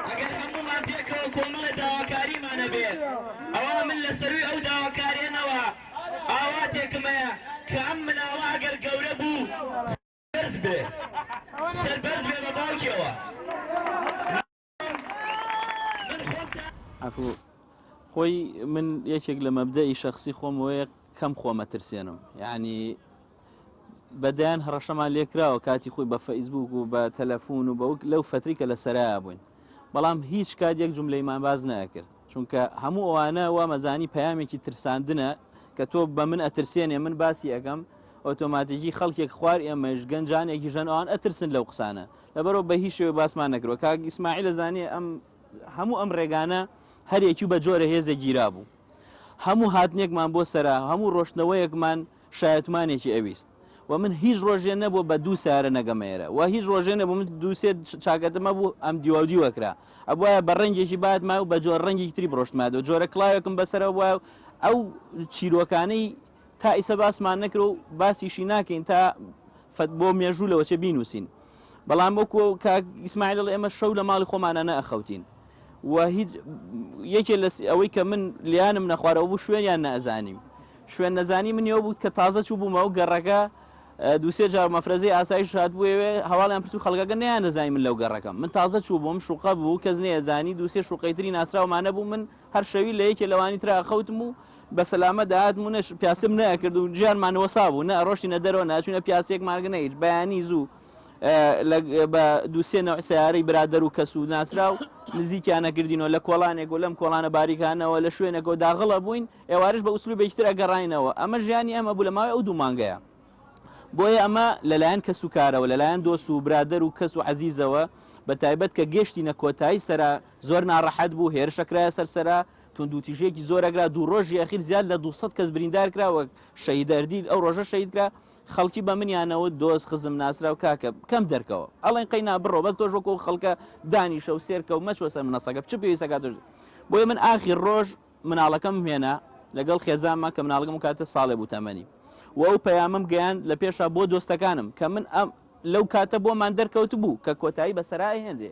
ئەگەر هەموومان پێکەوە کۆمەڵە داواکاریمانە بێت ئەوە من لە سەروی ئەو داواکارێنەوە ئاواتێکم هەیە کە ئەم مناڵە ئەگەر گەورە بوو سەربەرز بێ سەربەرز بێ بە باوکیەوە عفو خۆی من یەکێک لە مەبدەئی شخصی خۆم وەیە کەم خۆمە ترسێنم یعنی بەدەیان هەڕەشەمان لێکراوە کاتی خۆی بە فەیسبوک و بە تەلەفۆن و بەوک لەو فتری کە لە سەرا بووین بەڵام هیچ کات یەک جملەیمان باز نەکرد چونکە هەموو ئەوانە وا مەزانی پامێکی ترساندنە کە تۆ بە من ئەترسێنێ من باسی ئەەکەم ئۆتۆماتیکی خەڵکێک خوار ئێمەش گەنجانێکی ژەن ئەوان ئەترسن لەو قسانە لەبەرو بە هیچ شێوەی باسمان نەکردوە کاک ئیسماعیل ئەزانێ ئەم هەموو ئەم ڕێگانە هەریەکی بە جۆرە هێزێک گیرابوو هەموو هاتنێکمان بۆ سەرا هەموو ڕۆشتنەوەیەکمان شایەتمانێکی ئەویست و من هیچ ڕۆژێ نەبوو بە دوو سارە نەگەمەێرە و هیچ ڕۆژێ نەبوو من دووسێ چاکەتمە بوو ئەم دیواودی وەکرا ئەبواە بە ڕەنگێکی بات ما و بە جۆر ڕەنگی تری بڕۆشتمادە جۆرە کلااوێکم بەسەرە وایە ئەو چیرۆکانەی تا ئیسە باسمان نەکرو باسیشی ناکەین تا فەت بۆ مێژوو لەوە چێ بینوسین بەڵام وەکو کاک ئیسماعیل دەڵێ ئێمە شەو لە ماڵی خۆمانە نەئەخەوتین و هیچ یەکێ لە ئەوەی کە من لیانم نەخوارەوە بوو شوێنیان نەزانیم شوێن نەزانی من ئەو بوو کە تازە چوو بوومە و گەڕەکە دووسێ جار مەفرەزەی ئاسایش هات بووێ هەواڵیان پرس و خەڵگەکە نیان نەزای من لەو گەڕەکەم من تازە چوو بووم شوقە بوو کەس نێزانی دووسێ شوقەی تری ناسراومانە بوو من هەر شەوی لە یەکێ لەوانی ترا ئەخەوتم و بە سەلامەت دەهاتم و نە پیاسم نەئەکرد و ژیانمان وەسا بوو، نە ئەڕۆشتینە دەرەوە، نە ئەچووینە پیاسێکمان گرت، نە هیچ. بەیانی زوو بە دوو سێ نەوع سەیارەی برادەر و کەس و ناسراو نزیکیان ئەکردینەوە، لە کۆڵانێک و لەم کۆڵانە باریکانەوە لە شوێنێک و داغڵ ئەبووین، ئێوارەش بە ئوسلوبێکی تر ئەگەڕاینەوە. ئەمە ژیانی ئێمە بوو لە ماوەی ئەو دوو مانگەیا. بۆیە ئەمە لە لایەن کەسوکارەوە، لە لایەن دۆست و برادەر و کەس و عەزیزەوە بە تایبەت کە گەشتینە کۆتایی سەرا، زۆر ناڕەحەت بوو، هێرشە کرایە سەر سەرا، توندوتیژییەکی زۆر ئەگرا، دوو ڕۆژی ئەخیر زیاد لە دوو سەد کەس بریندار کرا و شەهید ئەردیل ئەو ڕۆژە شەهید کرا، خەڵکی بە منیان نەوت دۆست خزم ناسراو کاکە کەم دەرکەوە ئەڵێن قەینا بڕۆ بەس تۆش وەکو ئەو خەڵکە دانیشە و سێرکە و مەچۆ سەر منەسەکە چ پێویستە کە تۆش بۆیە من ئاخیر ڕۆژ مناڵەکەم هێنا لەگەڵ خێزانمە کە مناڵەکەم کاتە ساڵێ بوو تەمەنی و ئەو پەیامم گەیاند لە پێشا بۆ دۆستەکانم کە من ئەم لەو کاتە بۆمان دەرکەوت بوو کە کۆتایی بەسەرا ئەهێنرێ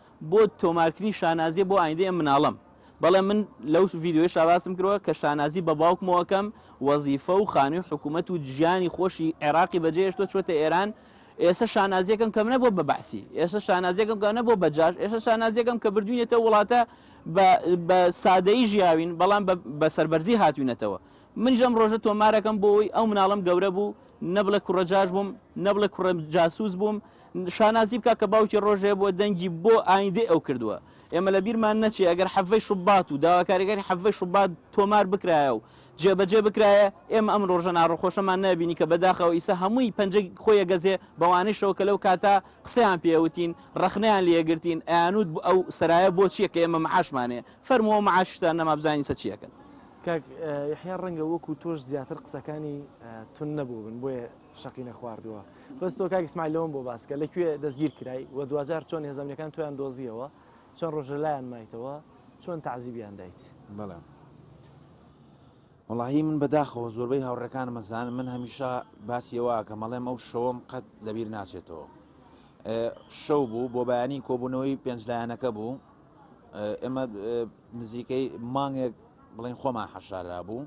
بۆ تۆمارکرین شانازیە بۆ ئایندەی ئەم مناڵەم بەڵێ من لەو ڤیدیۆیشا باسم کردوە کە شانازی بە باوکمەوە کەم وەزیفە و خانوی حکومەت و جیانی خۆشی عێراقی بەجێ هێشتوە چۆتە ئێران ئێستا شانازیەکەم کەم نەبووە بە بەعسی ئێستا شانازیەکەم کە نەبووە بە جاش ئێستا شانازیەکەم کە بردوینێتە وڵاتە بە سادەیی ژیاوین بەڵام بە سەربەرزی هاتوینەتەوە من ژەم ڕۆژە تۆمارەکەم بۆی ئەو مناڵم گەورە بوو نەبڵێ کوڕە جاش بووم نەبڵێ کوڕە جاسوس بووم شانازی بکە کە باوکی ڕۆژێ بووە دەنگی بۆ ئایندەی ئەو کردووە. ئێمە لە بیرمان نەچێ ئەگەر حەڤەی شوبات و داواکاریەکانی حەڤەی شوبات تۆمار بکرایە و جێبەجێ بکرایە، ئێمە ئەم ڕۆژە ناڕەخۆشەمان نەئەبینی کە بەداخەوە ئیسە هەمووی پەنجەی خۆی ئەگەزێ بەوانەیشەوە کە لەو کاتە قسەیان پێ ئەوتین، ڕەخنەیان لێ ئەگرتین، ئەیانوت ئەو سەرایە بۆ چیە کە ئێمە مەعاشمان هەیە؟ فەرموو ئەو مەعاشیشتان نەما بزانین ئیسە چی ئەکەن. کاک یەحیا ڕەنگە وەکو تۆش زیاتر قسەکانی توند نەبووبن بۆیە. شەقی نەخواردووە بەس تۆ کاک ئیسماعیل لەوەم بۆ باسکە لە کوێ دەستگیر کرای و دواجار چۆن هێزەمنەکان تۆیان دۆزیەوە چەند ڕۆژە لایان مایتەوە چۆن تعزیبیان دایت بەڵێ وڵی من بەداخەوە زۆربەی هاوڕەکان مەزان من هەمیشە باسیەوە کە مەڵێم ئەو شەوەم قەت لەبیر ناچێتەوە شەو بوو بۆ بەیانی کۆبوونەوەی پێنجلایەنەکە بوو ئێمە نزیکەی مانگێک بڵین خۆمان حەشارا بوو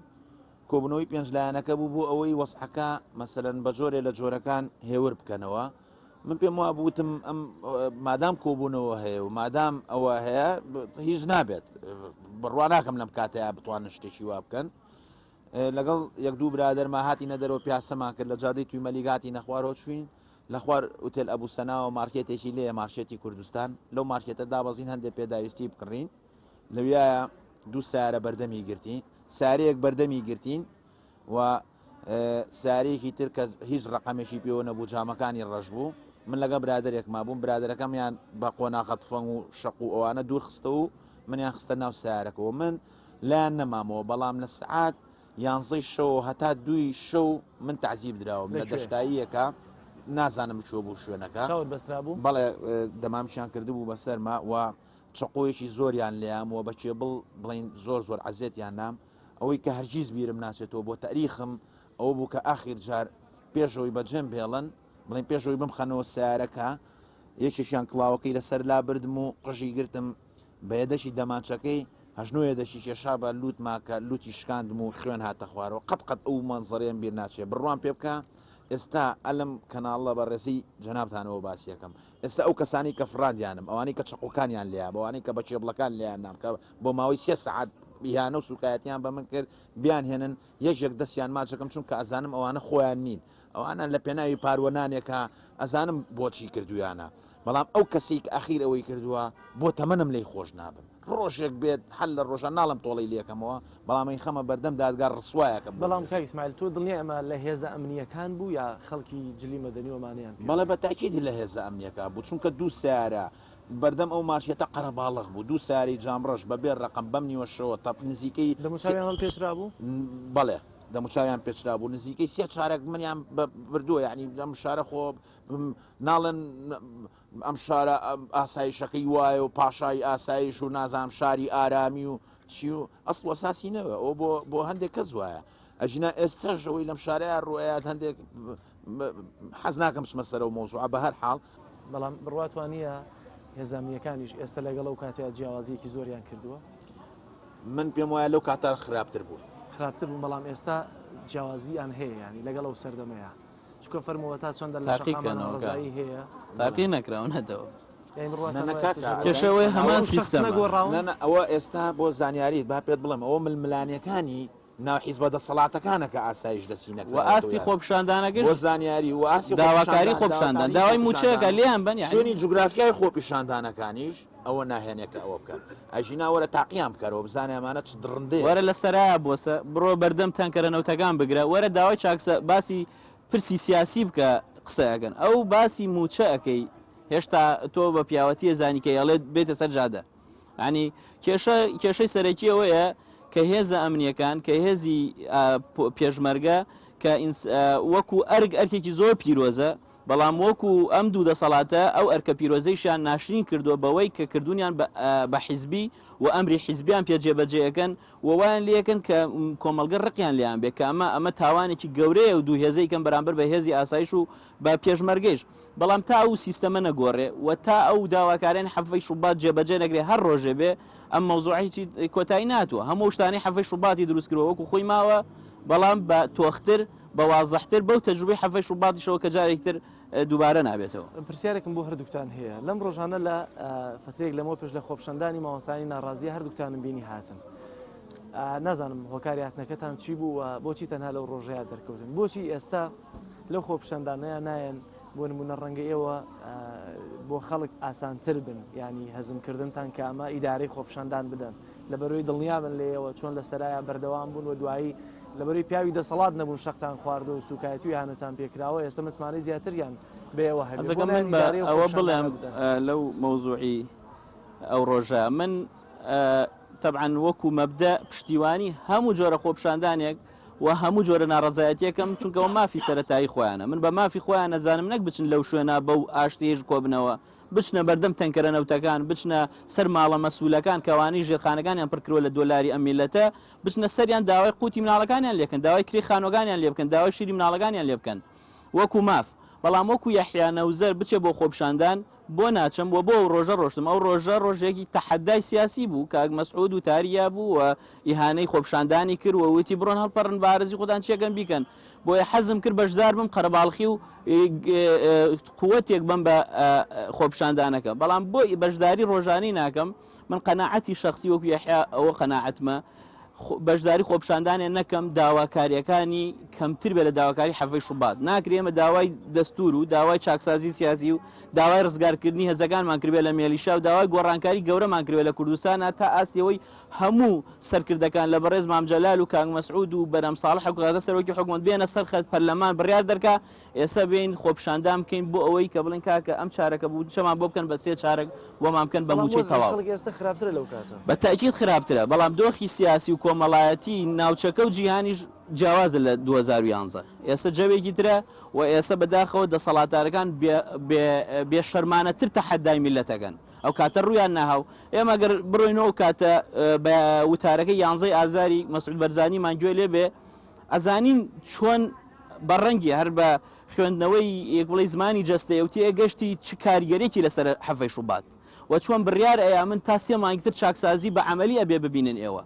کۆبوونەوەی پێنج لایەنەکە بوو بۆ ئەوەی وەزعەکە مەسەلەن بە جۆرێ لە جۆرەکان هێور بکەنەوە من پێم وا بوتم ئەم مادام کۆبوونەوە هەیە و مادام ئەوە هەیە هیچ نابێت بڕوا ناکەم لەم کاتەیە بتوان شتێکی وا بکەن لەگەڵ یەک دوو برادەرما هاتی نەدەرەوە پیاسەمان کرد لە جادەی توی مەلیگاتی نەخوارەوە چوین لە خوار ئوتێل ئەبوو سەناوە مارکێتێکی لێ مارشێتی کوردستان لەو مارکێتە دابەزین هەندێک پێداویستی بکڕین لەویایە دوو سارە بەردەمی گرتین سارەیەک بەردەمی گرتین و سارێکی تر کە هیچ ڕقەمێکی پێوە نەبوو جامەکانی ڕەش بوو من لەگە برادێک ما بووم برادەکەمیان بە قۆناغەت فەنگ و شەق و ئەوانە دوور خستە و منیان خستە ناو سارەکەەوە من لایەن نەمامەوە بەڵام لە سعات یانزەی شەو هەتا دوی شەو من تعزیب دراوم لە دەشتاییەکە نازانم چۆ بوو شوێنەکە بەسترا بوو بەڵێ دەمامشیان کردبوو بەسەرما و چەقۆیەکی زۆریان لێام و بە کێبڵ بڵین زۆر زۆر عەزێتیان نام ئەوەی کە هەرگیز بیرم ناچێتەوە بۆ تەریخم ئەوە بوو کە ئاخیر جار پێشەوەی بەجێم بێڵن بڵین پێشەوەی بمخەنەوە سیارەکە یەکێکیان کڵاوەکەی لەسەر لا بردم و قژی گرتم بە یەدەشی دەمانچەکەی هەژنوێ دەشی کێشا بە لوت ماکە لوتی شکاندم و خوێن هاتە خوارەوە قەت قەت ئەو مەنزڕێن بیر ناچێ بڕوان پێ بکە ئێستا ئەلم کەناڵە بە ڕێزی جەنابتانەوە باسیەکەم ئێستا ئەو کەسانەی کە فڕاندیانم، ئەوانەی کە چەقۆکانیان لێیابوو، ئەوانەی کە بە کێبڵەکان لێیاندام کە بۆ ماوەی سێ سەعات ئیهانە و سووکایەتیان بە من کرد، بیانهێنن، یەکێک دەستیان ماچ دەکەم، چونکە ئەزانم ئەوانە خۆیان نین. ئەوانە لە پێناوی پار و نانێکە، ئەزانم بۆچی کردوویانە. بەڵام ئەو کەسەی کە ئەخیر ئەوەی کردووە، بۆ تەمەنم لێی خۆش نابم. ڕۆژێک بێت حەل لە ڕۆژان ناڵێم تۆڵەی لێکەمەوە بەڵام ئەی خەمە بەردەم دادگا ڕسوایەکەم بەڵام کاک اسماعیل تۆ دڵنیای ئەمە لە هێزە ئەمنییەکان بوو یا خەڵکی جلی مەدەنی و ئەمانەیان پێ بەڵێ بە تاکید لە هێزە ئەمنییەکان بوو چونکە دوو سەیارە بەردەم ئەو مارکێتە قەرەباڵغ بوو دوو سەیارەی جام ڕەش بە بێ ڕەقەم بەم نیوە شەوە تەپ نزیکەی دەموچاویان هەڵپێچرابوو بەڵێ دەموچاویان پێچرابوو نزیکەی سێ چارەک منیان بردووە یعنی لەم شارە خۆ ناڵێن ئەم شارە ئاسایشەکەی وایە و پاشای ئاسایش و نازام شاری ئارامی و چی و ئەسڵ وەساسی نەوە ئەو بۆ هەندێک کەس وایە ئەژنا ئێستاش ئەوەی لەم شارەیە ڕوایات هەندێک حەز ناکەم سمەسەرە و مۆزوع بە هەر حاڵ بەڵام بڕاتوانە هێزانیەکانیش ئێستا لەگەڵ و کاتیا جیاوازیەکی زۆریان کردووە من پێم وایە لەو کاتە خراپتر بوو خراپتر بوو بەڵام ئێستا جیاوازیان هەیە ینی لەگەڵ ئەو سەردەمەیە چکە فەرمەوە تا چەندە لە شەقامەڕزایی هەیە تاقی نەکراونەتەوە کێشەوەی هەمان سیستەمەگۆڕاونە ئەوە ئێستا بۆ زانیاریت با پێت بڵێم ئەوە ململانەکانی ناحیز بە دەسەڵاتەکانە کە ئاسایش دەسی نەک و ئاستی خۆپشاندانەکە بۆ زانیاری و ئاسی داواکاری خۆپشاندان داوای موچەکە لێیان بەنیانی جوگرافیای خۆپیشاندانەکانیش ئەوە ناهێنێ کە ئەوە بکەن ئەژینا وەرە تاقییان بکەرەوە بزانێ ئەمانە چ دڕندێ وەرە لە سەرایە بۆسە بڕۆ بەردەم تەنکەرە نەوتەکان بگرە وەرە داوای چاکسە باسی پرسی سیاسی بکە قسە ئەگەن ئەو باسی موچە ئەەکەی هێشتا تۆ بە پیاوەتیە زانیکە ئەڵێت بێتە سەر جادە ینی کێشە کێشەی سەرەکی ئەوەیە کە هێزە ئەمنیەکان کە هێزی پێشمەرگە کە وەکو ئەرگ ئەرکێکی زۆر پیرۆزە بەڵام وەکو ئەم دوو دەسەڵاتە ئەو ئەرکە پیرۆزەیشیان ناشرین کردووە بەوەی کە کردوونیان بە حیزبی و ئەمری حیزبیان پێ جێبەجێ ئەکەن و وایان لێ ئەکەن کە کۆمەڵگە ڕقیان لێیان بێ کە ئەمە ئەمە تاوانێکی گەورەیە و دوو هێزەی کەم بەرامبەر بە هێزی ئاسایش و بە پێشمەرگەیش بەڵام تا ئەو سیستەمە نەگۆڕێ و تا ئەو داواکاریانی حەڤەی شوبات جێبەجێ نەکرێ هەر ڕۆژێ بێ ئەم مەوزوعە هیچی کۆتایی ناتوە هەموو شتانی حەفەی شوباتی دروست کردوە وەکو خۆی ماوە بەڵام بە تۆختر بە وازەحتر بەو تەجروبەی حەفەی شوباتیشەوە کە جارێکتر دووبارە نابێتەوە پرسیارێکم بۆ هەردووکتان هەیە لەم ڕۆژانە لە فترێک لەمەوە پێش لە خۆپشەندانی مامۆستانی ناڕازیە هەردووکتانم بینی هاتن نازانم هۆکاریاتنەکەتان چی بوو و بۆچی تەنها لەو ڕۆژەیە دەرکەوتن بۆچی ئێستا لەو خۆپشەندانەیە نایەن بۆ نمونە ڕەنگە ئێوە بۆ خەڵک ئاسانتر بن ینی هەزمکردنتان کە ئەمە ئیدارەی خۆپشاندان بدەن لە بەرەوەی دڵنیابن لێەوە چۆن لە سەرایە بەردەوام بوون و دوایی لە بەروی پیاوی دەسەڵات نەبوون شەقتان خواردە و سوکایەتی و هاانەتان پێکراوە ئێستا متمانەی زیاتریان بەوە هەزەکەم من بە ئەوە بڵێم لەو مۆزوعی ئەو ڕۆژە من تەبعاان وەکو مەبدە پشتیوانی هەموو جۆرە خۆپشاندانێک و هەموو جۆرە ناڕەزایەتیەکەم چونکە ئەوە مافی سەرەتایی خۆیانە من بە مافی خۆیان ئەزانم نەک بچن لەو شوێنە بەو ئاشتیەیش کۆبنەوە بچنە بەردەم تەنکەرە نەوتەکان بچنە سەر ماڵە مەسولەکان کەوانەی ژێرخانەکانیان پڕ کردوە لە دۆلاری ئەم میلەتە بچنە سەریان داوای قوتی مناڵەکانیان لێکەن داوای کرێی خانوەکانیان لێبکەن داوای شیری مناڵەکانیان لێبکەن وەکو ماف، بەڵام وەکو یەحیا نەوزەر بچێ بۆ خۆپیشاندان بۆ ناچم و بۆ ئەو رۆژە رۆشتم، ئەو رۆژە رۆژێکی تەحەدای سیاسی بوو، کاک مەسعود وتاریا بوو و ئیهانەی خۆپیشاندانی کرد و وتی بڕۆن هەڵپەڕن بەعەرەزی خۆتان چیەکەن بیکەن، بۆیە حەزم کرد بەشدار بم قەرەباڵخی و قوتێک بەم بە خۆپیشاندانەکە، بەڵام بۆ بەشداری رۆژانەی ناکەم، من قەناعەتی شەخسی وەکو یەحیا ئەوە قەناعەتمە خۆ- بەشداری خۆپشاندانێ نەکەم داواکاریەکانی کەمتر بێ لە داواکاری حەڤەی شوبات ناکرێ ئێمە داوای دەستور و داوای چاکسازی سیاسی و داوای ڕزگارکردنی هەزەکانمان کردبێ لە مێلیشا و داوای گۆڕانکاری گەورەمان کردبێ لە کوردستانا تا ئاستیەوەی هەموو سەرکردەکان لە بەڕێز مام جەلال و کاک مەسعود و بەرام ساڵح و کاکە سەرۆکی حکومەت بێنە سەر خەت پەرلەمان بڕیار دەرکا ئێستا بێین خۆپیشاندان بکەین بۆ ئەوەی کە بڵێن کاکە ئەم چارەکە بودجەمان بۆ بکەن بە سێ چارەک بۆمان بکەن بە مووچەی تەواو بە تاکیید خراپترە بەڵام دۆخی سیاسی و کۆمەڵایەتی ناوچەکە و جیهانیش جیاوازە لە 2011 ئێستا جەوێکی ترە و ئێستا بەداخەوە دەسەڵاتارەکان بێ شەرمانەتر تەحەدای میلەتەکەن ئەو کاتە ڕویان ناهاو ئێمە گەر بڕۆینەوە کاتە بە وتارەکە یانزەی ئازاری مەسعود بەرزانیمان گوێ لێ بێ ئەزانین چۆن بە ڕەنگی هەر بە خوێندنەوەی یەک بڵێی زمانی جەستەیە و تێگەشتی چ کارگەرێکی لەسەر حەڤەی شوبات و چۆن بڕیار ئەیا من تا سێ مانگی تر چاکسازی بە عەمەلی ئەبێ ببینن ئێوە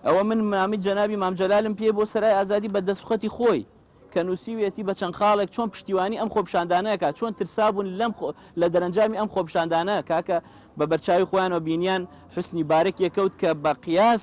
ئەوە من مامی جەنابی مام جەلالم پێ بۆ سەرای ئازادی بە دەسخەتی خۆی کە نووسیویەتی بە چەند خاڵێک چۆن پشتیوانی ئەم خۆپشاندانەکە چۆن ترسابوون لەم لە دەرەنجامی ئەم خۆپشاندانە کاکە بە بەرچاوی خۆیانەوە بینیان حسنی بارک یەکەوت کە بە قیاس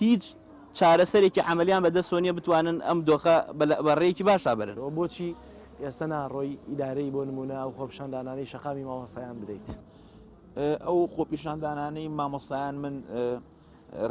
هیچ چارەسەرێکی عەمەلیان بە دەستەوە نییە بتوانن ئەم دۆخە بە رێیەکی باش رابەرن. بۆچی ئێستە ناڕۆی ئیدارەی بۆ نموونە ئەو خۆپیشاندانانەی شەقامی مامۆستایان بدەیت؟ ئەو خۆپیشاندانانەی مامۆستایان من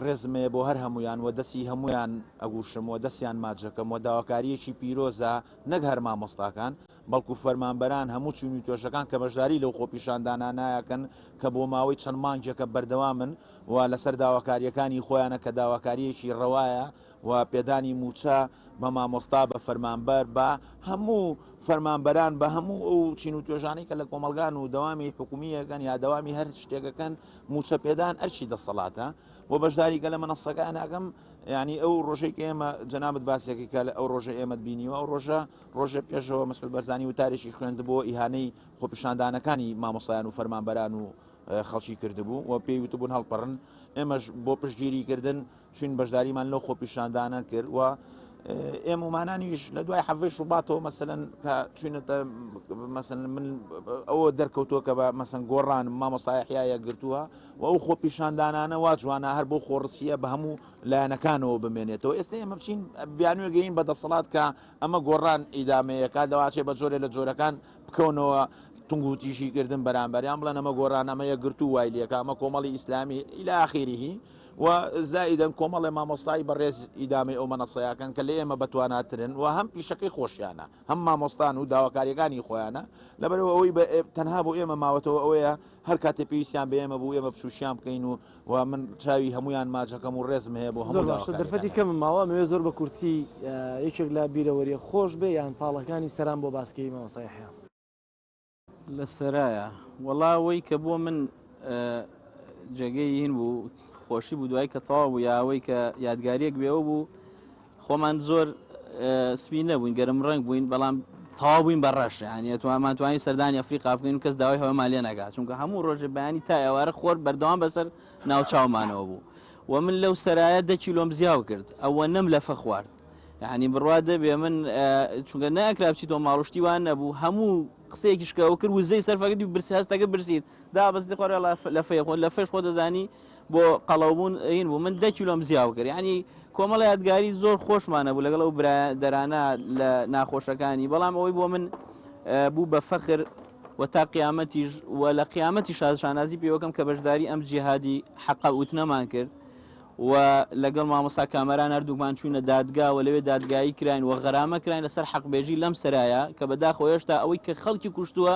رێزم هەیە بۆ هەر هەموویان و دەستی هەموویان ئەگوشم و دەستیان ماچ ئەکەم و داواکارییەکی پیرۆزە نەک هەر مامۆستاکان بەڵکو فەرمانبەران هەموو چین و توێژەکان کە بەشداری لەو خۆپیشاندانانایەکەن کە بۆ ماوەی چەند مانگێکە بەردەوامن و لەسەر داواکارییەکانی خۆیانە کە داواکارییەکی ڕەوایە و پێدانی مووچە بە مامۆستا بە فەرمانبەر بە هەموو فەرمانبەران بە هەموو ئەو چین و توێژانەی کە لە کۆمەلگان و دەوامی حکومیەکەن یا دەوامی هەر شتێکەکەن موچە پێدان ئەرچی دەسەڵاتە بۆ بەشداری گەلە منەسەکان ناگەم ینی ئەو ڕۆژێک ئێمە جەنابەت باسێکی کە لە ئەو ڕۆژە ئێمەت بینیوە ئەو ڕۆژە ڕۆژە پێشەوە مەسل بەرزانی و تاریشی خوێندبووە ئیهانەی خۆپیشاندانەکانی مامۆسایان و فەرمانبەران و خەڵکی کردبوو و پێی وتبوون هەڵپەڕن ئێمەش بۆ پشتگیری کردن چین بەشداریمان لەو خۆپیشاندانە کرد و ئێمەمانانیش لە دوای حەڤش ڕوباتەوە مەسەن کە چینەتە مەسن من ئەوە دەرکەوتووە کە بە مەسن گۆڕان مامۆسایحیایە گرتووە و ئەو خۆ پیشاندانانە وا جوانە هەر بۆ خۆڕسیە بە هەموو لایەنەکانەوە بمێنێتەوە ئێستا ئێمە بچین بیانوێگەین بە دەسەڵات کە ئەمە گۆڕان ئیدامەیەکە دەواچێ بە جۆرێ لە جۆرەکان بکەونەوە تونگوتیژی کردن بەرامبەریان بڵێن ئەمە گۆران ئەمە یەکگرتو وای لەکە ئەمە کۆمەڵی ئیسلامی ئیلا ئاخیریهی و زائیدەن کۆمەڵێ مامۆستایی بەڕێز ئیدامەی ئەو مەنەسەیەکەن کە لە ئێمە بەتواناترن و هەم پیشەکەی خۆشیانە هەم مامۆستان و داواکاریەکانی خۆیانە لەبەرەوە ئەوەی تەنها بۆ ئێمە ماوەتەوە ئەوەیە هەر کاتێ پێویستیان بە ئێمە بوو ئێمە بچوشیان بکەین و و من چاوی هەمویان ماچەکەم و ڕێزم هەیە بۆ هەموو باشە دەرفەتی کەم ماوە مەوێ زۆر بە کورتی یەکێک لە بیرەوەریە خۆش بێ یان تاڵەکانی سەران بۆ باسکەی مامۆستای حیان لە سەرایە وەڵاوەی کە بۆ من جێگەی هین بوو خۆشی بوو دوای کە تەواو بوو یاوەی کە یادگاریەک بێەوە بوو خۆمان زۆر سپی نەبووین گەرم ڕەنگ بووین بەڵام تەوا بووین بە ڕەش یانە توانمان توانین سەردانی ئەفریقا بکەین و کەس داوای هەوە مالێ ناگات چونکە هەموو ڕۆژێ بەیانی تا ئێوارە خۆر بەردەوام بەسەر ناوچاومانەوە بوو و من لەو سەرایە دە کیلۆم زیاو کرد ئەوە نەم لە فەخوارد یعنی بڕوا دەبێ من چونگە ناکرا بچیت و ماڵشتی وان نەبوو هەموو قسەیەکیشکەوە کرد وزەی سەرفەکردی و برسی هەستەکە برسیت دابستی خۆرە لە فێ خۆ لە فێش خۆ دەزانی بۆ قەڵەوبوون ئەین بوو من دە کیلۆم زیاو کرد ینی کۆمەڵ یادگاری زۆر خۆشمانە بوو لەگەڵ ئەو برادرانە لە ناخۆشەکانی بەڵام ئەوەی بۆ من بوو بە فەخر و تا قیامەتیش و لە قیامەتی شازشانازی پێوەکەم کە بەشداری ئەم جیهادی حەقا وتنەمان کرد و لەگەڵ مامۆسا کامەران هەردووکمان چوینە دادگا و لەوێ دادگایی کراین و غەرامە کراین لەسەر حەقبێژی لەم سرایە کە بەداخۆ هێشتا ئەوەی کە خەڵکی کوشتووە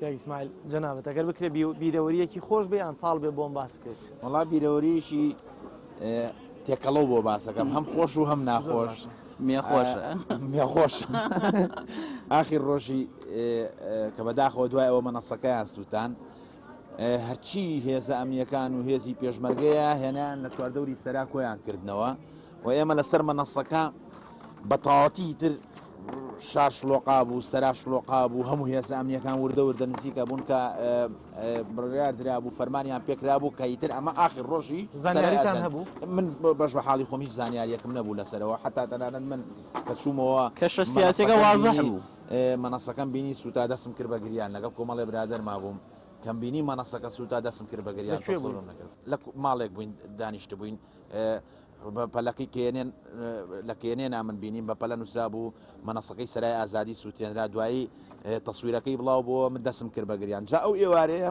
کاک ئیسماعیل جەنابت ئەگەر بکرێ بیرەوەریەکی خۆش بێ یان تاڵ بێ بۆم باس بکەیت وەڵا بیرەوەریشی تێکەڵە بۆ باسەکەم هەم خۆش و هەم ناخۆش مێخۆش مێخۆش ئاخی ڕۆژی کە بەداخەوە دوای ئەوە مەنەسەکەیان سووتان هەرچی هێزە ئەمنیەکان و هێزی پێشمەرگەیە هێنان لە چواردەوری سەرا کۆیان کردنەوە و ئێمە لەسەر مەنەسەکە بە تاواتی تر شار شلۆقا بوو سەرا شلۆقا بوو هەموو هێزە ئەمنیەکان وردە وردە نزیکە بوون کە بڕیار درا بوو فەرمانیان پێکرا بوو کە ئیتر ئەمە ئاخر ڕۆژی زانیاریتان هەبوو من بەش بە حاڵی خۆم هیچ زانیاریەکم نەبوو لەسەرەوە حتا تەنانەت من کە چوومەوە کەشە سیاسەکە وازە بوو مەنەسەکەم بینی سوتا دەسم کرد بە گریان لەگەڵ کۆمەڵێ برادەر مابووم کەم بینی مەنەسەکە سوتا دەسم کرد بە گریان تەسەورم نەکرد لە ماڵێک بووین دانیشتبووین بە پەلەکەی کێنێن لە کێنێنا من بینیم بە پەلە نووسرا بوو مەنەسەکەی سەرای ئازادی سووتێنرا دوایی تەسویرەکەی بڵاو بۆ من دەسم کرد بە گریان جا ئەو ئێوارەیە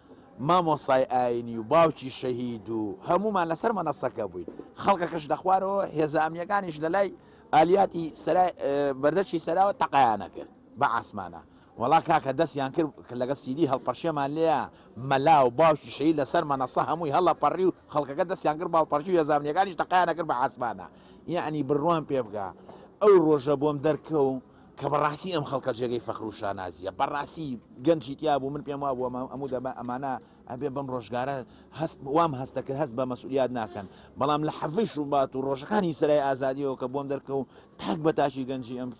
مامۆستای ئاینی و باوکی شەهید و هەموومان لەسەر مەنەسەکە بووین خەڵکەکەش لەخوارەوە هێزە ئەمنیەکانیش لەلای ئالیاتی سەرای بەردەرکی سەراوە تەقەیانە کرد بە عاسمانە وەڵا کاکە دەستیان کرد کە لەگە سیدی هەڵپەرشێمان لێە مەلا و باوکی شەهید لەسەر مەنەسە هەمووی هەڵە پەڕی و خەڵکەکە دەستیان کرد باڵپەرشی هێزە ئەمنیەکانیش تەقەیانە کرد بە عاسمانە یعنی بڕوام پێ بکە ئەو ڕۆژە بۆم دەرکەوم کە بەڕاستی ئەم خەڵکە جێگەی فەخر و شانازیە بەڕاستی گەنجی تیا بوو من پێم وا بووە ئەموو دەبە ئەمانە ئەبێ بەم ڕۆژگارە هەست وام هەستە کرد هەست بە مەسولیات ناکەن بەڵام لە حەڤش و بات و ڕۆژەکانی سرای ئازادیەوە کە بۆم دەرکە و تاک بە تاشی گەنجی ئەم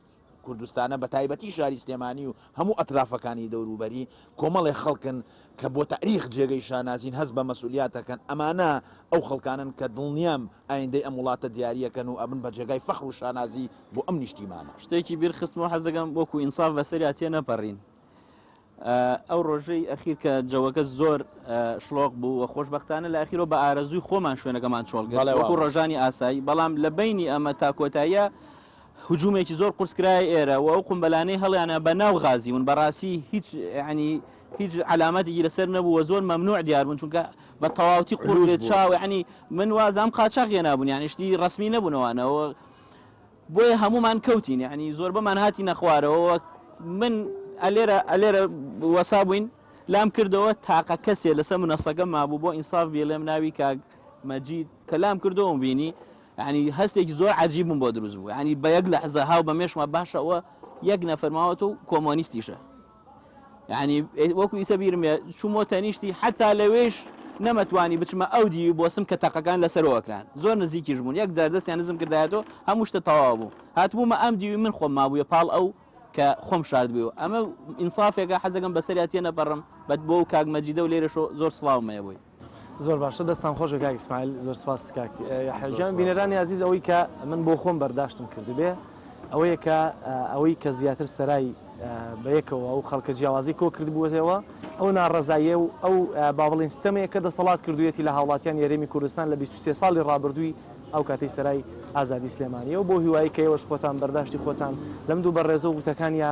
کوردستانە بە تایبەتی شاری سلێمانی و هەموو ئەترافەکانی دەوروبەری کۆمەڵێ خەڵکن کە بۆ تاریخ جێگەی شانازین هەست بە مەسولیات ئەکەن ئەمانە ئەو خەڵکانەن کە دڵنیام ئایندەی ئەم وڵاتە دیاری ئەکەن و ئەبن بە جێگای فەخر و شانازی بۆ ئەم نیشتیمانە. شتێکی بیر خستمەوە حەز دەکەم وەکو ئینساف بەسەریا تێ نەپەرین ئەو ڕۆژەی ئەخیر کە جەوەکە زۆر شڵۆق بوو و خۆشببختانە لە ئەخیرۆ بە ئارەزووی خۆمان شوێنەکەمان چۆڵگەڵێ وەکو ڕۆژانی ئاسایی بەڵام لە بینی ئەمە تا کۆتاییە هجومێکی زۆر قورس کرایە ئێرە و ئەو قومبەلانەی هەڵیانە بە ناو غازی ون بەڕاستی هیچ ینی هیچ علامەتێکی لەسەر نەبوو و زۆر مەمنوع دیار بوون چونکە بە تەواوتی قور قلوش بێت بوون چاو ینی من وازام قاچاق هێنابوون یانی شتی ڕسمی نەبوونەوانەوە بۆیە هەمومان کەوتین ینی زۆربەمان هاتینە خوارەوە وەک من ئەلێرە ئەلێرە وەسا بووین لام کردەوە تاقە کەسێ لەسەر منەسەکە مابوو بۆ ئینساف بیڵێم ناوی کاک مەجید کە لام کردەوەم بینی یانی هەستێکی زۆر عەجیبم بۆ دروست بوو ینی بە یەک لەحزە هاو بە مێشما باشە ئەوە یەک نەفەرماوەەوە و کۆمۆنیستیشە ینی وەکو ئیسە بیرم چوومۆ تەنیشتی حتا لەوێش نەمەتوانی بچمە ئەو دیوی بۆسم کە تەقەکان لەسەرەوەکران زۆر نزیکیش بوون یەک جار دەستیان نزم کردایەوە هەموو شتە تەواو بوو هاتبوومە ئەم دیوی من خۆم مابووە پاڵ ئەو کە خۆم شارد بوو ئەمە ئینسافێکە حەزەکەم بەسەریاتە نەپەڕم بەت بۆ و کاک مەجیدە و لێرەشۆ زۆر سلااومەیە بووی زۆر باشە دەستان خۆش بێ کاک ئیسماعیل زۆر سپاس کاک یەحیا گیان بینەرانی ئازیز ئەوەی کە من بۆ خۆم بەرداشتم کردبێ ئەوەیە کە ئەوەی کە زیاتر سەرای بە یەکەوە ئەو خەڵکە جیاوازی کۆ کردبووەتەوە ئەو ناڕەزاییە و ئەو با بڵین ستەمەیە کە دەسەڵات کردوێتی لە هاوڵاتیان یاریمی کوردستان لە 23 ساڵی ڕابردووی ئەو کاتەی سەرای ئازادی سلێمانیەوە بۆ هیوایی کە ئێوەش خۆتان بەرداشتی خۆتان لەم دوو بەڕێزە و وتەکانیا